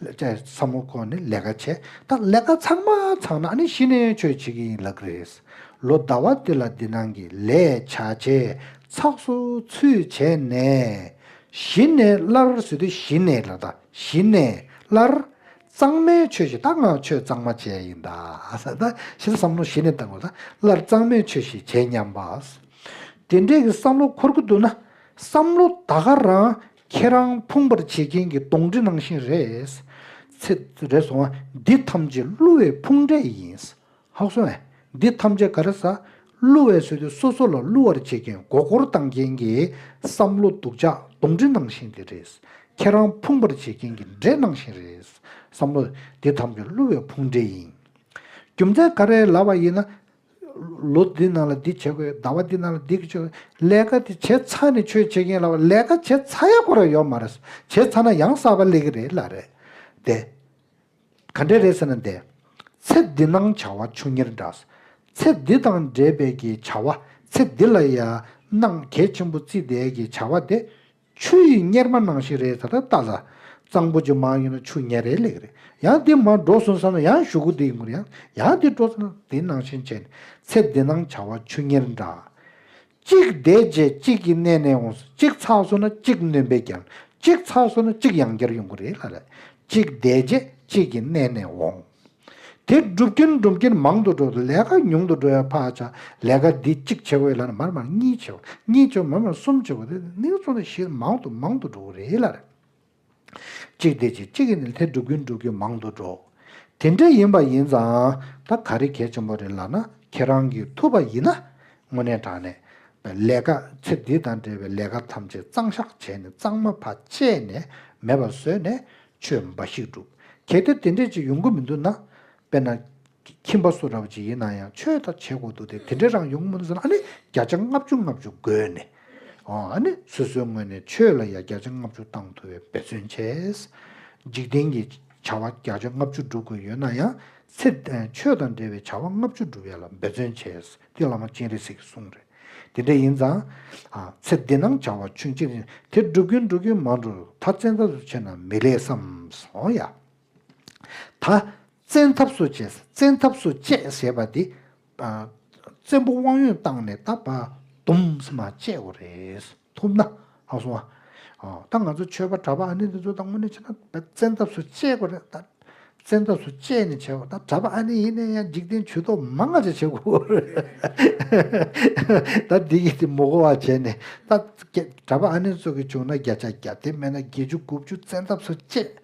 ལས་བྱས་ཚ་མོ་ཁོ་ནས་ལས་ཀ་བྱས་ད་ལས་ཀ་ཚང་མ་ཚང་ན་ཨ་ནི་གཞི་ནས་ཆོས་བྱེད་ཀྱི་ཡིན་ལགས་རེད། ལོ་ཟླ་བ་དེ་ལ་འདི་སྣང་གི་ལས་བྱ་བྱས་ཚགས་སུ་ཚུད་བྱས་ནས་གཞི་ནས་སླར་བཟོས་དུས་གཞི་ནས་ལ་ད་གཞི་ནས་སླར་གཙང་མའི་ཆོས་བྱས་ད་ང་ཆོས་གཙང་མ་བྱས་ཡིན་ད་ད་ཕྱིར་བསམ་བློ་གཞི་ནས་བཏང་བ་ད་སླར་གཙང་མའི་ཆོས་ཤིག་བྱས་སྙམ་པ། དེ་འདྲའི་གི་བསམ་བློ་འཁོར་གི་འདུག་ན་བསམ་བློ་ད་ག་རང་ཁྱེད་རང་ཕུང་བར་བྱེད་མཁན་གྱི་གདོང་དྲི་ནང་བཞིན་རེད། ཚེ། རེད་སོང། འདི་ཐམས་ཅད་བསླུ་བའི་ཕུང་འདྲེ་ཡིན། ཧཱུྃ་སོང། འདི་ཐམས་ཅད་ག་རེ་ཟ། བསླུ་བའི་ཟོལ་དེ་སོ་སོ་ལ་བསླུ་བར་བྱེད་མཁན་མགོ་སྐོར་བཏང་མཁན་གྱི་བསམ་བློ་སྡུག་ཅག་གདོང་དྲི་ནང་བཞིན་དེ་རེད། ཁྱེད་རང་ཕུང་བར་བྱེད་མཁན་གྱི་འདྲེ་ནང་བཞིན་རེད། བསམ་བློ། འདི་ཐམས་ཅད་བསླུ་བའི་ཕུང་འདྲེ་ཡིན། རྒྱུ་མཚན་ག་རེ་ལབ་པ་ཡིན་ན། ལོ་འདི་ནང་ལ་འདི་བྱེད་དགོས་ཟླ་བ་འདི་ནང་ལ་འདི་བྱེད་དགོས་ལས་ཀ་དེ་བྱེད་ཚ་ནས་ཆོས་བྱེད་མཁན་ལ་བ་ལས་ཀ་བྱེད་ཚ་ཡག་པོ་ར་ཡོད་མ་རེད་བྱེད་ཚ་ན་ཡང་གསར་པ་ལས་ཀི་རེད་ལ་རེད་དེ། ག་འདྲས་རེད་ཟེར་ན་འདི། ཚེ་འདི་སྣང་བྱ་བ་ཆུང་ཉེར་འདྲ། ཚེ་འདི་དང་འབྲེལ་པའི་གི་བྱ་བ་ཚེ་འདི་ལ་ཡ་སྣང་གལ་ཆེན་པོ་རྩིས་བདེའི་གི་བྱ་བ་དེ་ཆུ་ཡི་གཉེར་མ་ནང་བཞིན་རེད་ད་ལྟ་ལྟ་ལ། གཙང་པོ་ཅིག་མང་ཡོད་ན་ཆུ་གཉེར་རེ་ལེགས་རེད་ཡང་དེ་མ་འགྲོ་སོང་བསམ་ན་ཡང་ཞུ་གུ་དེའི་ངུར་ཡང་ཡང་དེ་འགྲོ་ཚ་ན་དེ་ནང་བཞིན་བྱས་ནས་ཚེ་འདི་སྣང་བྱ་བ་ཆུ་གཉེར་འདྲ། གཅིག་བསྡད་རྗེས་གཅིག་གི་གནས་ནས་འོངས་སོང་གཅིག་ཚགས་སོང་ན་གཅིག་ནོན་པའི་རྒྱར་གཅིག་ཚགས་སོང་ན་གཅིག་ཡང་རྒྱར་ཡོང་གི་རེད་ལ་ལས་གཅིག་བསྡད་རྗེས་གཅིག་གི་གནས་ནས་འོངས། དེ་སྒྲུབ་ཀྱིན་སྒྲུབ་ཀྱིན་མང་དུ་འགྲོ་དང་ལས་ཀ་ཉུང་དུ་འགྲོ་བའི་བར་ཆ་ལས་ཀ་འདི་གཅིག་བྱེད་དགོས་ལ་མར་མར་གཉིས་བྱེད་དགོས་གཉིས་བྱེད་དགོས་མར་མར་གསུམ་བྱེད་དགོས་དེ་ནི་ཚོ་ནི་བཞིར་མང་དུ་མང་དུ་འགྲོ་གི་རེད་ལ། གཅིག་དེ་གཅིག་གཅིག་གིས་ནི་དེ་སྒྲུབ་ཀྱིན་སྒྲུབ་ཀྱིན་མང་དུ་འགྲོ། དེ་འདྲ་ཡིན་པ་ཡིན་ཙང་ད་ག་རེ་གལ་ཆེན་པོ་རེད་ལགས་ན་ཁྱེད་རང་གིས་ཐུབ་པ་ཡིན་ན་དངོས་གནས་དྲང་གནས་ལས་ཀ་ཚེ་འདི་དང་འབྲེལ་བའི་ལས་ཀ་ཐམས་ཅད་གཙང་བཤགས་བྱས་ནས་གཙང་མ་བ་ཅད་ནས་མེད་པ་བཟོས་ནས་ཆོས་འབའ་ཞིག་སྒྲུབ། གལ་ཏེ་དེ་འདྲས་ཅིག་ཡོང་གི་མི་འདུག་ན། དཔེར་ན། ཁྱིམ་པ་སུ་ར་བ་ཅིག་ཡིན་ན་ཡང་ཆོས་དག་བྱེད་དགོས་འདུག་སྟེ་དེ་འདྲས་རང་ཡོང་གི་མི་འདུག་ཟེར་ན་ཨ་ནི་བརྒྱ་ཆ་ལྔ་བཅུ་ལྔ་བཅུ་དགོས་ནི། ཨ་ནི་སོ་སོའི་ངོས་ནས་ཆོས་ལ་ཡ་བརྒྱ་ཆ་ལྔ་བཅུ་བཏང་ཐུབ་པའི་འབད་བརྩོན་བྱས། འཇིག་རྟེན་གྱི་བྱ་བ་བརྒྱ་ཆ་ལྔ་བཅུ་སྒྲུབ་དགོས་ཡོད་ན་ཡང། ཚེ་འདིར་ཆོས་དང་འབྲེལ་བའི་བྱ་བ་ལྔ་བཅུ་སྒྲུབ་ཡ་ལ་འབད་བརྩོན་བྱས། ཀྱི་བླ་མ་སྤྱན་རས་གཟིགས་ཀྱི་གསུང་རེད། དེ་འདྲ་ཡིན་ཙང། ཚེ་འདི་སྣང་བྱ་བ་ཆུན་གཅིག་རེད། དེ་སྒྲུབ་ཀྱིན་སྒྲུབ་ཀྱིན་མ་འགྲོ་ད་བཙན་ཐབས་སུ་བྱས་ན་མི་ལེགས་བསམ་སོང་ཡ། ད་བཙན་ཐབས་སུ་བྱས་བཙན་ཐབས་སུ་བཅས་ཟེར་བ་འདི། བཙན་པོ་དབང་ཡོན་བཏང་ནས་ད་བ་དུམ་སི་མ་བཅས་འོ་རེད། ཐུབ་ན་ལགས་སོ། ད་ང་ཚོ་ཆོས་པ་གྲྭ་པ་ཨ་ནེ་འདི་ཚོ་ད་དངོས་གནས་བྱས་ན་ད་བཙན་ཐབས་སུ་སྤྱད་དགོས་རེད་ད། བཙན་ཐབས་སུ་སྤྱད་ནས་བྱས་པ་ད་གྲྭ་པ་ཨ་ནེ་ཡིན་ན་ཡང་འཇིག་རྟེན་ཇུས་གཏོགས་མང་ང་ཚོས་བྱེད་དགོས་པ་རེད། ད་འདི་གིས་མོ་གོ་བ་བྱས་ནས་ད་གྲྭ་པ་ཨ་ནེ་ཚོ་གིས་བྱུང་ན་བརྒྱ་ཆ་བརྒྱ་དེ་མེད་ན་བརྒྱད་ཅུ་དགུ་བཅུ་བཙན་ཐབས་སུ་སྤྱད།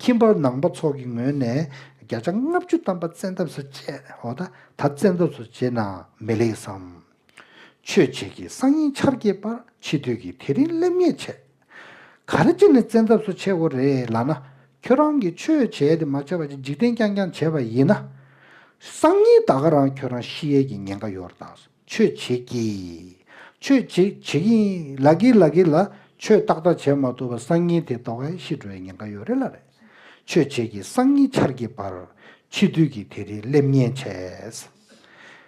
ཁྱིམ་པ་ནང་པ་ཚོ་གི་ངོས་ནས་བརྒྱ་ཆ་ལྔ་བཅུ་གཏམ་པ་བཙན་ཐབས་སུ་སྤྱད་ད་བཙན་ཐབས་སུ་བྱས་ན་མི་ལེགས་སམ། ཆོས་བྱེད་ཀྱི་སང་ཉིན་ཆར་རྒྱས་པར་འཆི་དུས་ཀྱི་དེ་རིང་སླེབས་ངེས་བྱས། ག་རེ་བྱས་ནས་བཙན་ཐབས་སུ་ཆས་དགོས་རེད་ལགས་ན། ཁྱོད་རང་གིས་ཆོས་བྱས་དེ་མ་ཆས་པ་ཅིག་འཇིག་རྟེན་རྐྱང་རྐྱང་བྱས་པ་ཡིན་ན། སང་ཉིན་ད་ག་རང་ཁྱོད་རང་ཤི་ཡས་ཀྱི་ཉེན་ཁ་ཡོད་རེད་ད། ཆོས་བྱེད་ཀྱི། ཆོས་བྱེད་བྱེད་ཀྱི་ཡིན་ལ་གི་ལ་གི་ལ། ཆོས་ཏག་ཏག་བྱས་མ་ཐུབ་པར་སང་ཉིན་དེ་ད་ག་ཤི་འགྲོ་ཡས་ཉེན་ཁ་ཡོད་རེད་ལ་རེད། ཆོས་བྱེད་ཀྱི་སང་ཉིན་ཆར་རྒྱས་པར་འཆི་དུས་ཀྱི་དེ་རིང་སླེབས་ངེས་བྱས།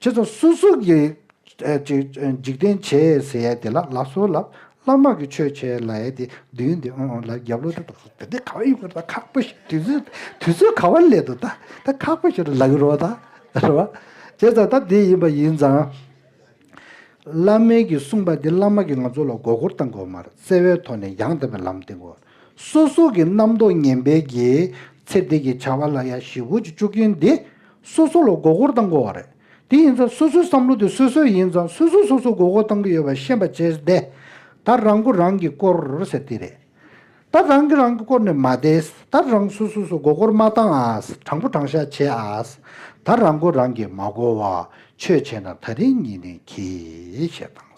ཁྱེད་ཚོ་སུ་སུ་གི་འཇིག་རྟེན་བྱེད་ཨེ་ཟེར་ཡས་དེ་ལ་ལ་སོ་ལ་བླ་དམག་གི་ཆོས་བྱས་ལ་ཡས་དེ་དུས་འདི་ཨོ་ཨོ་ལ་རྒྱབ་ལོ་ཏོ་ཏོ་དེ་འདི་ག་བ་ཡིན་ཁུ་རུ་ད་ཁག་པོ་ཞིག་དུས་ཚོད་དུས་ཚོད་ག་བ་ལས་དུ་ད་ད་ཁག་པོ་ཞིག་རུ་ལ་གི་རོ་ད་རེད་བ། བྱས་ཙང་ད་དེ་ཡིན་པ་ཡིན་ཙང། བླ་མེད་ཀྱི་གསུངས་པ་དེ་བླ་དམག་གི་ང་ཚོ་ལ་མགོ་སྐོར་བཏང་དགོས་མ་རེད་བརྩེ་བའི་ཐོག་ནས་ཡང་དག་པའི་ལམ་བསྟན་དགོས། སོ་སོ་གི་རྣམ་རྟོག་ངན་པའི་རྒྱའི། ཚེ་འདས་ཀྱི་བྱ་བ་ལ་ཡང་བཞི་བོ་གཅིག་བཅུ་རྐྱེན་འདི། སོ་སོ་ལ་མགོ་སྐོར་བཏང་དགོས་བ་རེད། དེ་ཡིན་ཙང་སོ་སོའི་བསམ་བློ་དེ་སོ་སོའི་ཡིན་ཙང་སོ་སོས་སོ་སོ་མགོ་སྐོར་བཏང་གི་ཡོད་པ་ཤེས་པ་བྱས་བསྡད། ད་རང་མགོ་རང་གིས་སྐོར་ཟེར་དེ་རེད། ད་རང་གིས་རང་གིས་སྐོར་ནས་མ་བསྡད། ད་རང་སོ་སོས་སོ་མགོ་སྐོར་མ་བཏང་ཨ། དྲང་པོ་དྲང་བཞག་བྱེད་ཨ། ད་རང་མགོ་རང་གིས་མ་སྐོར་བ། ཆོས་བྱས་ན་ད་རིང་ཉིན་རིང་གིས་ཞེས་དང།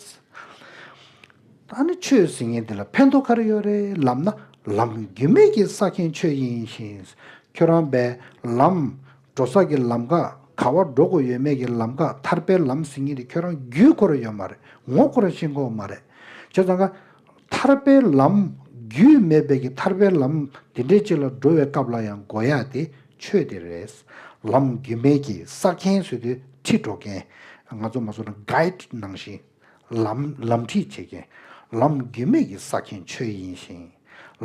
ད་ནི་ཆོས་ཟེར་མཁན་དེ་ལ་ཕན་ཐོགས་ག་རེ་ཡོད་རེད་ལབ་ན་ལམ་རྒྱུས་མེད་ཀྱི་བསགས་མཁན་ཁྱོད་ཡིན་ཞིང་ཁྱོད་རང་བས་ལམ་འགྲོ་བསགས་ཀྱི་ལམ་ཁ་ག་བ་འགྲོ་དགོས་ཡོད་མེད་ཀྱི་ལམ་ཁ་ཐར་པའི་ལམ་ཟེར་མཁན་དེ་ཁྱོད་རང་རྒྱུས་ཁོ་ར་ཡོད་མ་རེད་ངོ་ཁོ་ར་ཤེས་མཁོ་བ་མ་རེད་བྱས་ཙང་ཁ། ཐར་པའི་ལམ་རྒྱུས་མེད་བས་ཀྱི་ཐར་པའི་ལམ་དེ་འདྲའི་ཅིག་ལ་འགྲོ་བའི་སྐབས་ལ་ཡང་འགོ་ཡ་དེ་ཆོས་དེ་རེད་ལམ་རྒྱུས་མེད་ཀྱི་བསགས་མཁན་ཟེར་དུས་ཁྲིད་འགྲོ་མཁན་ང་ཚོ་མ་བཟོ་ན Guide ནང་བཞིན། ལམ། ལམ་ཁྲིད་བྱེད་མཁན། ལམ་རྒྱུས་མེད་ཀྱི་ས་མཁན་ཆོས་ཡིན་ཞིང།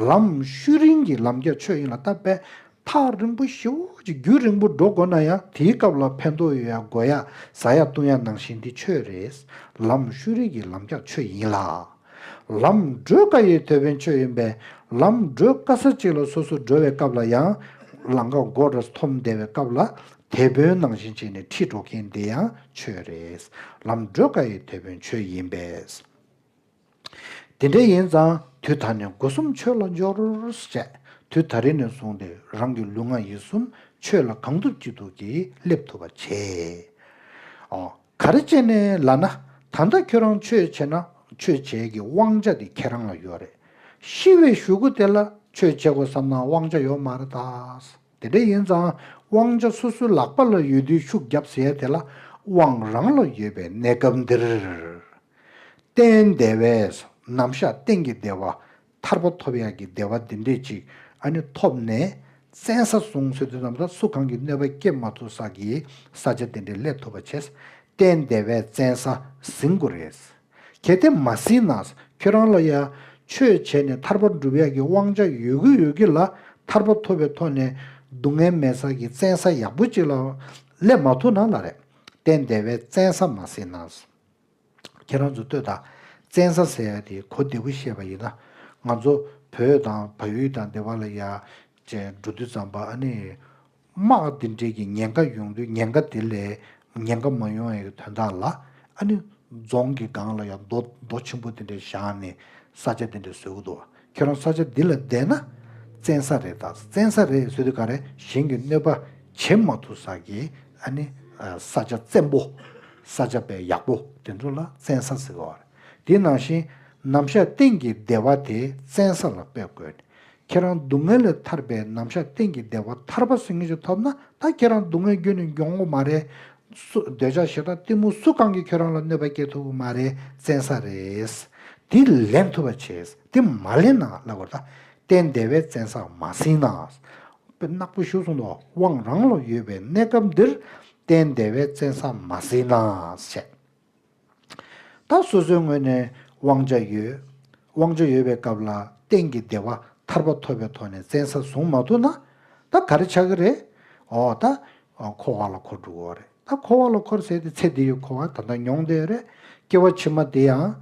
ལམ། ཤུལ་རིང་གི་ལམ་རྒྱགས་ཆོས་ཡིན་ལ་ད་བས་ཐག་རིང་པོ་ཞེ་བོ་ཅིག་རྒྱུད་རིང་པོ་འགྲོ་དགོས་ན་ཡང་དེའི་སྐབས་ལ་ཕན་ཐོགས་ཡོད་ཡ་དགོས་ཡ་ཟ་ཡ་བཏུང་ཡ་ནང་བཞིན་དེ་ཆོས་རེད། ལམ། ཤུལ་རིང་གི་ལམ་རྒྱགས་ཆོས་ཡིན་ལ། ལམ། བགྲོད་དཀའ་ཡོད་དོ་ཕན་ཆོས་ཡིན་པས་ལམ། བགྲོད་དཀའ་ས་གཅིག་ལ་སོ་སོར་འགྲོ་བའི་སྐབས་ལ་ཡང། ལང་ཀ་མགོ་རུ་འཐོམ་བདེ་བའི་སྐབས་ལ་དེད་དཔོན་ནང་བཞིན་བྱས་ནས་ཁྲིད་འགྲོ་མཁན་དེ་ཡང་ཆོས་རེད། ལམ་བགྲོད་དཀའ་ཡི་དེད་དཔོན་ཆོས་ཡིན་པས། དེ་འདྲ་ཡིན་ཙང་དུས་ད་ནས་སྒོ་གསུམ་ཆོས་ལ་འབྱོར། ཅེས་དུས་ད་རེ་ནས་བཟུང་སྟེ་རང་གི་ལུས་ངག་ཡིད་གསུམ་ཆོས་ལ་གང་ཐུབ་ཅི་ཐུབ་ཀྱིས་སླེབས་ཐུབ་པ་བྱས། ཨོ། ག་རེ་བྱས་ནས་ལ་ན། ད་ལྟ་ཁྱོད་རང་ཆོས་བྱེད་ན་ཆོས་བྱེད་ཀྱི་དབང་ཆ་དེ་ཁྱེད་རང་ལ་ཡོད་རེད། ཤི་བའི་ཞུ་སྒོ་དེ་ལ་ཆོས་བྱེད་དགོས་བསམ་ན་དབང་ཆ་ཡོད་མ་རེད་ད། དེ་འདྲ་ཡིན་ཙང་དབང་ཆ་སོ་སོའི་ལག་པ་ལ་ཡོད་དུས་ཤུགས་རྒྱབ་ཟེར་ཡ་དེ་ལ་དབང་རང་ལ་ཡོད་པའི་གནས་སྐབས་འདིར། སྟན་བདེ་བས་ནམ་བཞག་སྟེང་གི་བདེ་བ་ཐར་པ་ཐོབ་ཡག་གི་བདེ་བ་འདི་འདྲས་ཅིག་ཨ་ནི་ཐོབ་ནས་བཙན་ས་བཟུང་ཟེར་དུས་ནམ་ཟླ་སུ་གང་གིས་གནོད་པ་སྐྱེལ་མ་ཐུབ་ས་ཀྱི་ས་ཆ་འདི་འདྲས་སླེབས་ཐུབ་པ་བྱས། སྟན་བདེ་བས་བཙན་ས་ཟིན་དགོས་རེད། གལ་ཏེ་མ་ཟིན་ན་ཁྱོད་རང་ལ་ཡང་ཆོས་བྱས་ནས་ཐར་པ་འགྲུབ་ཡག་གི་དབང་ཆ་ཡོད་གི་ཡོད་གི་ལ་ཐར་པ་ཐོབ་པའི་ཐོག་ནས་སྡུག་བསྔལ་མེད་ས་ཀྱི་བཙན་ས་ཡག་པོ་ཅིག་ལ་སླེབས་མ་ཐུབ་ན་ལ་རེ་སྟན་བདེ་བའི་བཙན་ས་མ་ཟིན་ན། ཁྱེད་རང་ཚོ་ལྟོས་དང་བཙན་ས་ཟེར་ཡག་དེ་གོ་བདེ་པོ་ཤེས་པ་ཡིན་ན་ང་ཚོ་བོད་དང་བལ་ཡུལ་དང་འདི་བ་ལ་ཡག་ཅེས་འགྲོ་དུས་ཙམ་པ་ཨ་ནི། དམག་འདི་འདྲས་ཀྱི་ཉེན་ཁ་ཡོང་དུས་ཉེན་ཁ་དེ་ལས་ཉེན་ཁ་མ་ཡོང་ཡའི་དོན་དག་ལ་ཨ་ནི་རྫོང་གི་སྒང་ལ་ཡང་རྡོ་རྡོ་ཆེན་པོ་དེ་འདྲས་བཞག་ནས་ས་ཆ་དེ་འདྲས་བཟོས་གི་འདུག་ཁྱེད་རང་ས་ཆ་འདི་ལ་བསྡད་ན་བཙན་ས་རེད་ད་བཙན་ས་རེད་ཟེར་དུས་ག་རེ་གཞན་གྱི་གནོད་པ་བྱེད་མ་ཐུབ་ས་གི་ཨ་ནི་ས་ཆ་བཙན་པོ་ས་ཆ་བལ་ཡག་པོ་དེ་ཚོ་ལ་བཙན་ས་ཟེར་གི་འོ་རེད་དེ་ནང་བཞིན་ནམ་ཞག་གཏན་གྱི་སྡེ་བ་དེ་བཙན་ས་ལ་སྤེལ་དགོས། ཁྱེད་རང་སྡུག་བསྔལ་ལས་ཐར་པའི་ནམ་ཞག་གཏན་གྱི་བདེ་བ་ཐར་པ་སེམས་ངེས་ཅན་ཐོབ་ན་ད་ཁྱེད་རང་སྡུག་བསྔལ་རྒྱུ་ནི་མགྱོགས་མོ་མ་རེད། འདོད་ཆགས་ཞེ་དྲག་གཏི་མུག་སུ་གང་གིས་ཁྱོད་རང་ལ་གནོད་པ་སྐྱེལ་ཐུབ་ཀྱི་མ་རེད་བཙན་ས་རེད། དེ་ལེན་ཐུབ་པ་བྱས། དེ་མ་ལེན་ན་བླ་གོ་ད་གཏན་བདེ་བས་བཙན་ས་མ་ཟིན་ན། དཔེ་ནག་པོ་ཞུ་གསུང་དུ་དབང་རང་ལ་ཡོད་པའི་གནས་སྐབས་འདིར་གཏན་བདེ་བས་བཙན་ས་མ་ཟིན་ན་བཤད། ད་སོ་སོའི་ངོས་ནས་དབང་ཆ་ཡོད། དབང་ཆ་ཡོད་པའི་སྐབས་ལ་གཏན་གྱི་བདེ་བ་ཐར་པ་ཐོབ་པའི་ཐོག་ནས་བཙན་ས་བཟུང་མ་ཐུབ་ན། ད་ག་རེ་ཆགས་ཀྱི་རེད། ཨོ་ད། འཁོར་བ་ལ་འཁོར་འགྲོ་གི་རེད། ད་འཁོར་བ་ལ་འཁོར་ཟེར་ཏེ་ཚེ་འདི་ཡི་འཁོར་བ་ད་ལྟ་མྱོང་བསྡད་ཡོད་རེད། སྐྱེ་བ་ཕྱི་མ་དེ་ཡང།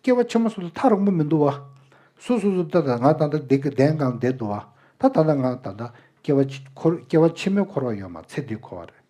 སྐྱེ་བ་ཕྱི་མ་སོ་སོ་ཐག་རིང་པོ་མི་འདུག་བ། སུ་སོ་སོ་ད་ད་ང་ད་ལྟ་བདེ་གི་བདེན་གང་བདེ་འདུག་བ། ད་ད་ལྟ་ང་ད་ལྟ་སྐྱེ་བ་ཕྱི་མའི་འཁོར་བ་ཡོད་མ་ཚེ་འདིའི་འཁོར་བ་རེད།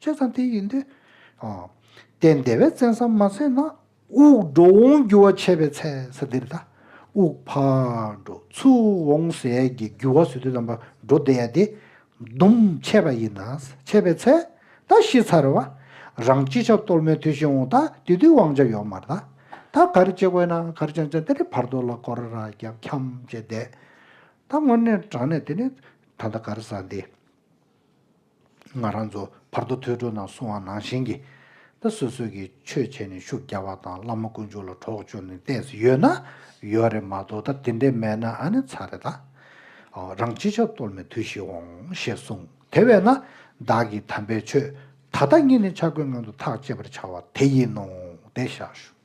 ཆོས་ཚང་དེ་ཡིན་ཏེ། དེ་འདས་པའི་བཙན་བསམ་མ་ཟད་ན། དབུགས་འགྲོ་འོང་རྒྱུ་བ་ཆད་པའི་ཚེ་ས་འདིར་དང། དབུགས་འཕར་འགྲོ་ཚུར་འོང་ཟས་ཀྱི་རྒྱུ་བ་ཟོས་དུས་ལམ་པར་འགྲོ་བདེ་ཡ་དེ། ལྡུམ་ཆད་པ་ཡིན་ན་ཆད་པའི་ཚེ། ད་ཤི་ཚར་བ། རང་ཅི་བྱ་གཏོལ་མའི་དུས་ཤི་འོང་ད་དེ་དུས་དབང་ཆ་ཡོག་མར་ད། ད་གར་ཅེ་དགོས་ན་གར་ཅང་ཅང་དེ་ནི་བར་དོ་ལ་སྐོར་ར་རྒྱབ་འཁྱམ་བྱེད་བསྡད། ད་སྔོན་ནས་དྲང་ནས་དེ་ནི་ད་ད་གར་ས་འདི། ང་རང་ཚོ་བར་དོ་ཐོས་གྲོལ་ནང་སོང་བ་ནང་བཞིན་གྱི། ད་སོ་སོས་ཀྱི་ཆོས་བྱས་ནས་ཤུགས་རྒྱག་པ་དང་བླ་མ་དཀོན་མཆོག་ལ་གྲོགས་བྱོས་ནས་བལྟས་སུ་ཡོད་ན་ཡོད་རེད་མ་གཏོགས་ད་དེ་འདྲས་མེད་ན་ཨ་ནི་ཚར་རེད་ད། རང་སྤྱི་ཆབ་གཏོར་མའི་དུས་ཤིག་འོང་ཞེས་གསུངས་དེ་བས་ན་བདག་གིས་དམ་པའི་ཆོས་ད་ལྟ་ཉིད་ནས་འཆར་སྒོའི་སྔོན་དུ་ཐག་བཅད་པར་བྱ་བ་དེ་ཡིན་ནོ་བསྡད་བཞག་ཞུ།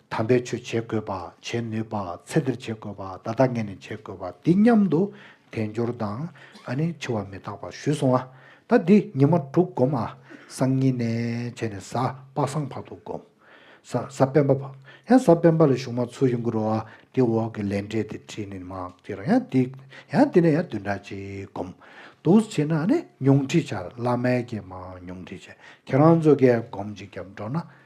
དམ་པའི་ཆོས་བྱེད་དགོས་པ་བྱེད་ནུས་པ་ཚད་འདིར་བྱེད་དགོས་པ་ད་ལྟ་ངས་ནི་བྱེད་དགོས་པ་འདི་སྙམ་དུ་དལ་འབྱོར་དང་ཨ་ནི་འཆི་བ་མི་རྟག་པ་ཞུས་སོང་ཨ། ད་འདི་ཉི་མ་དྲུག་བསྒོམ་ཨ། སང་ཉིན་ནས་བྱས་ནས་གཟའ་དཔག་སང་བར་དུ་བསྒོམ། གཟའ་སྤེན་པ་བར། ཡང་གཟའ་སྤེན་པ་ལ་གཞུག་མ་ཚུར་ཡོང་གི་རོ་ཨ། དེ་འོག་གི་ལས་འབྲས་དེ་བྲིས་ནས་མ་ཀྱི་རང་ཡང་འདི། ཡང་འདི་ནས་ཡང་བདུན་ཕྲག་ཅིག་བསྒོམ། དུ་བྱས་ན་ཨ་ནི་ཉུང་འཕྲི་བྱ་བླ་མས་ཀྱི་མ་ཉུང་འཕྲི་བྱས་ཁྱེད་རང་ཚོ་ཀས་བསྒོམ་ཅིག་རྒྱབ་འགྲོ་ན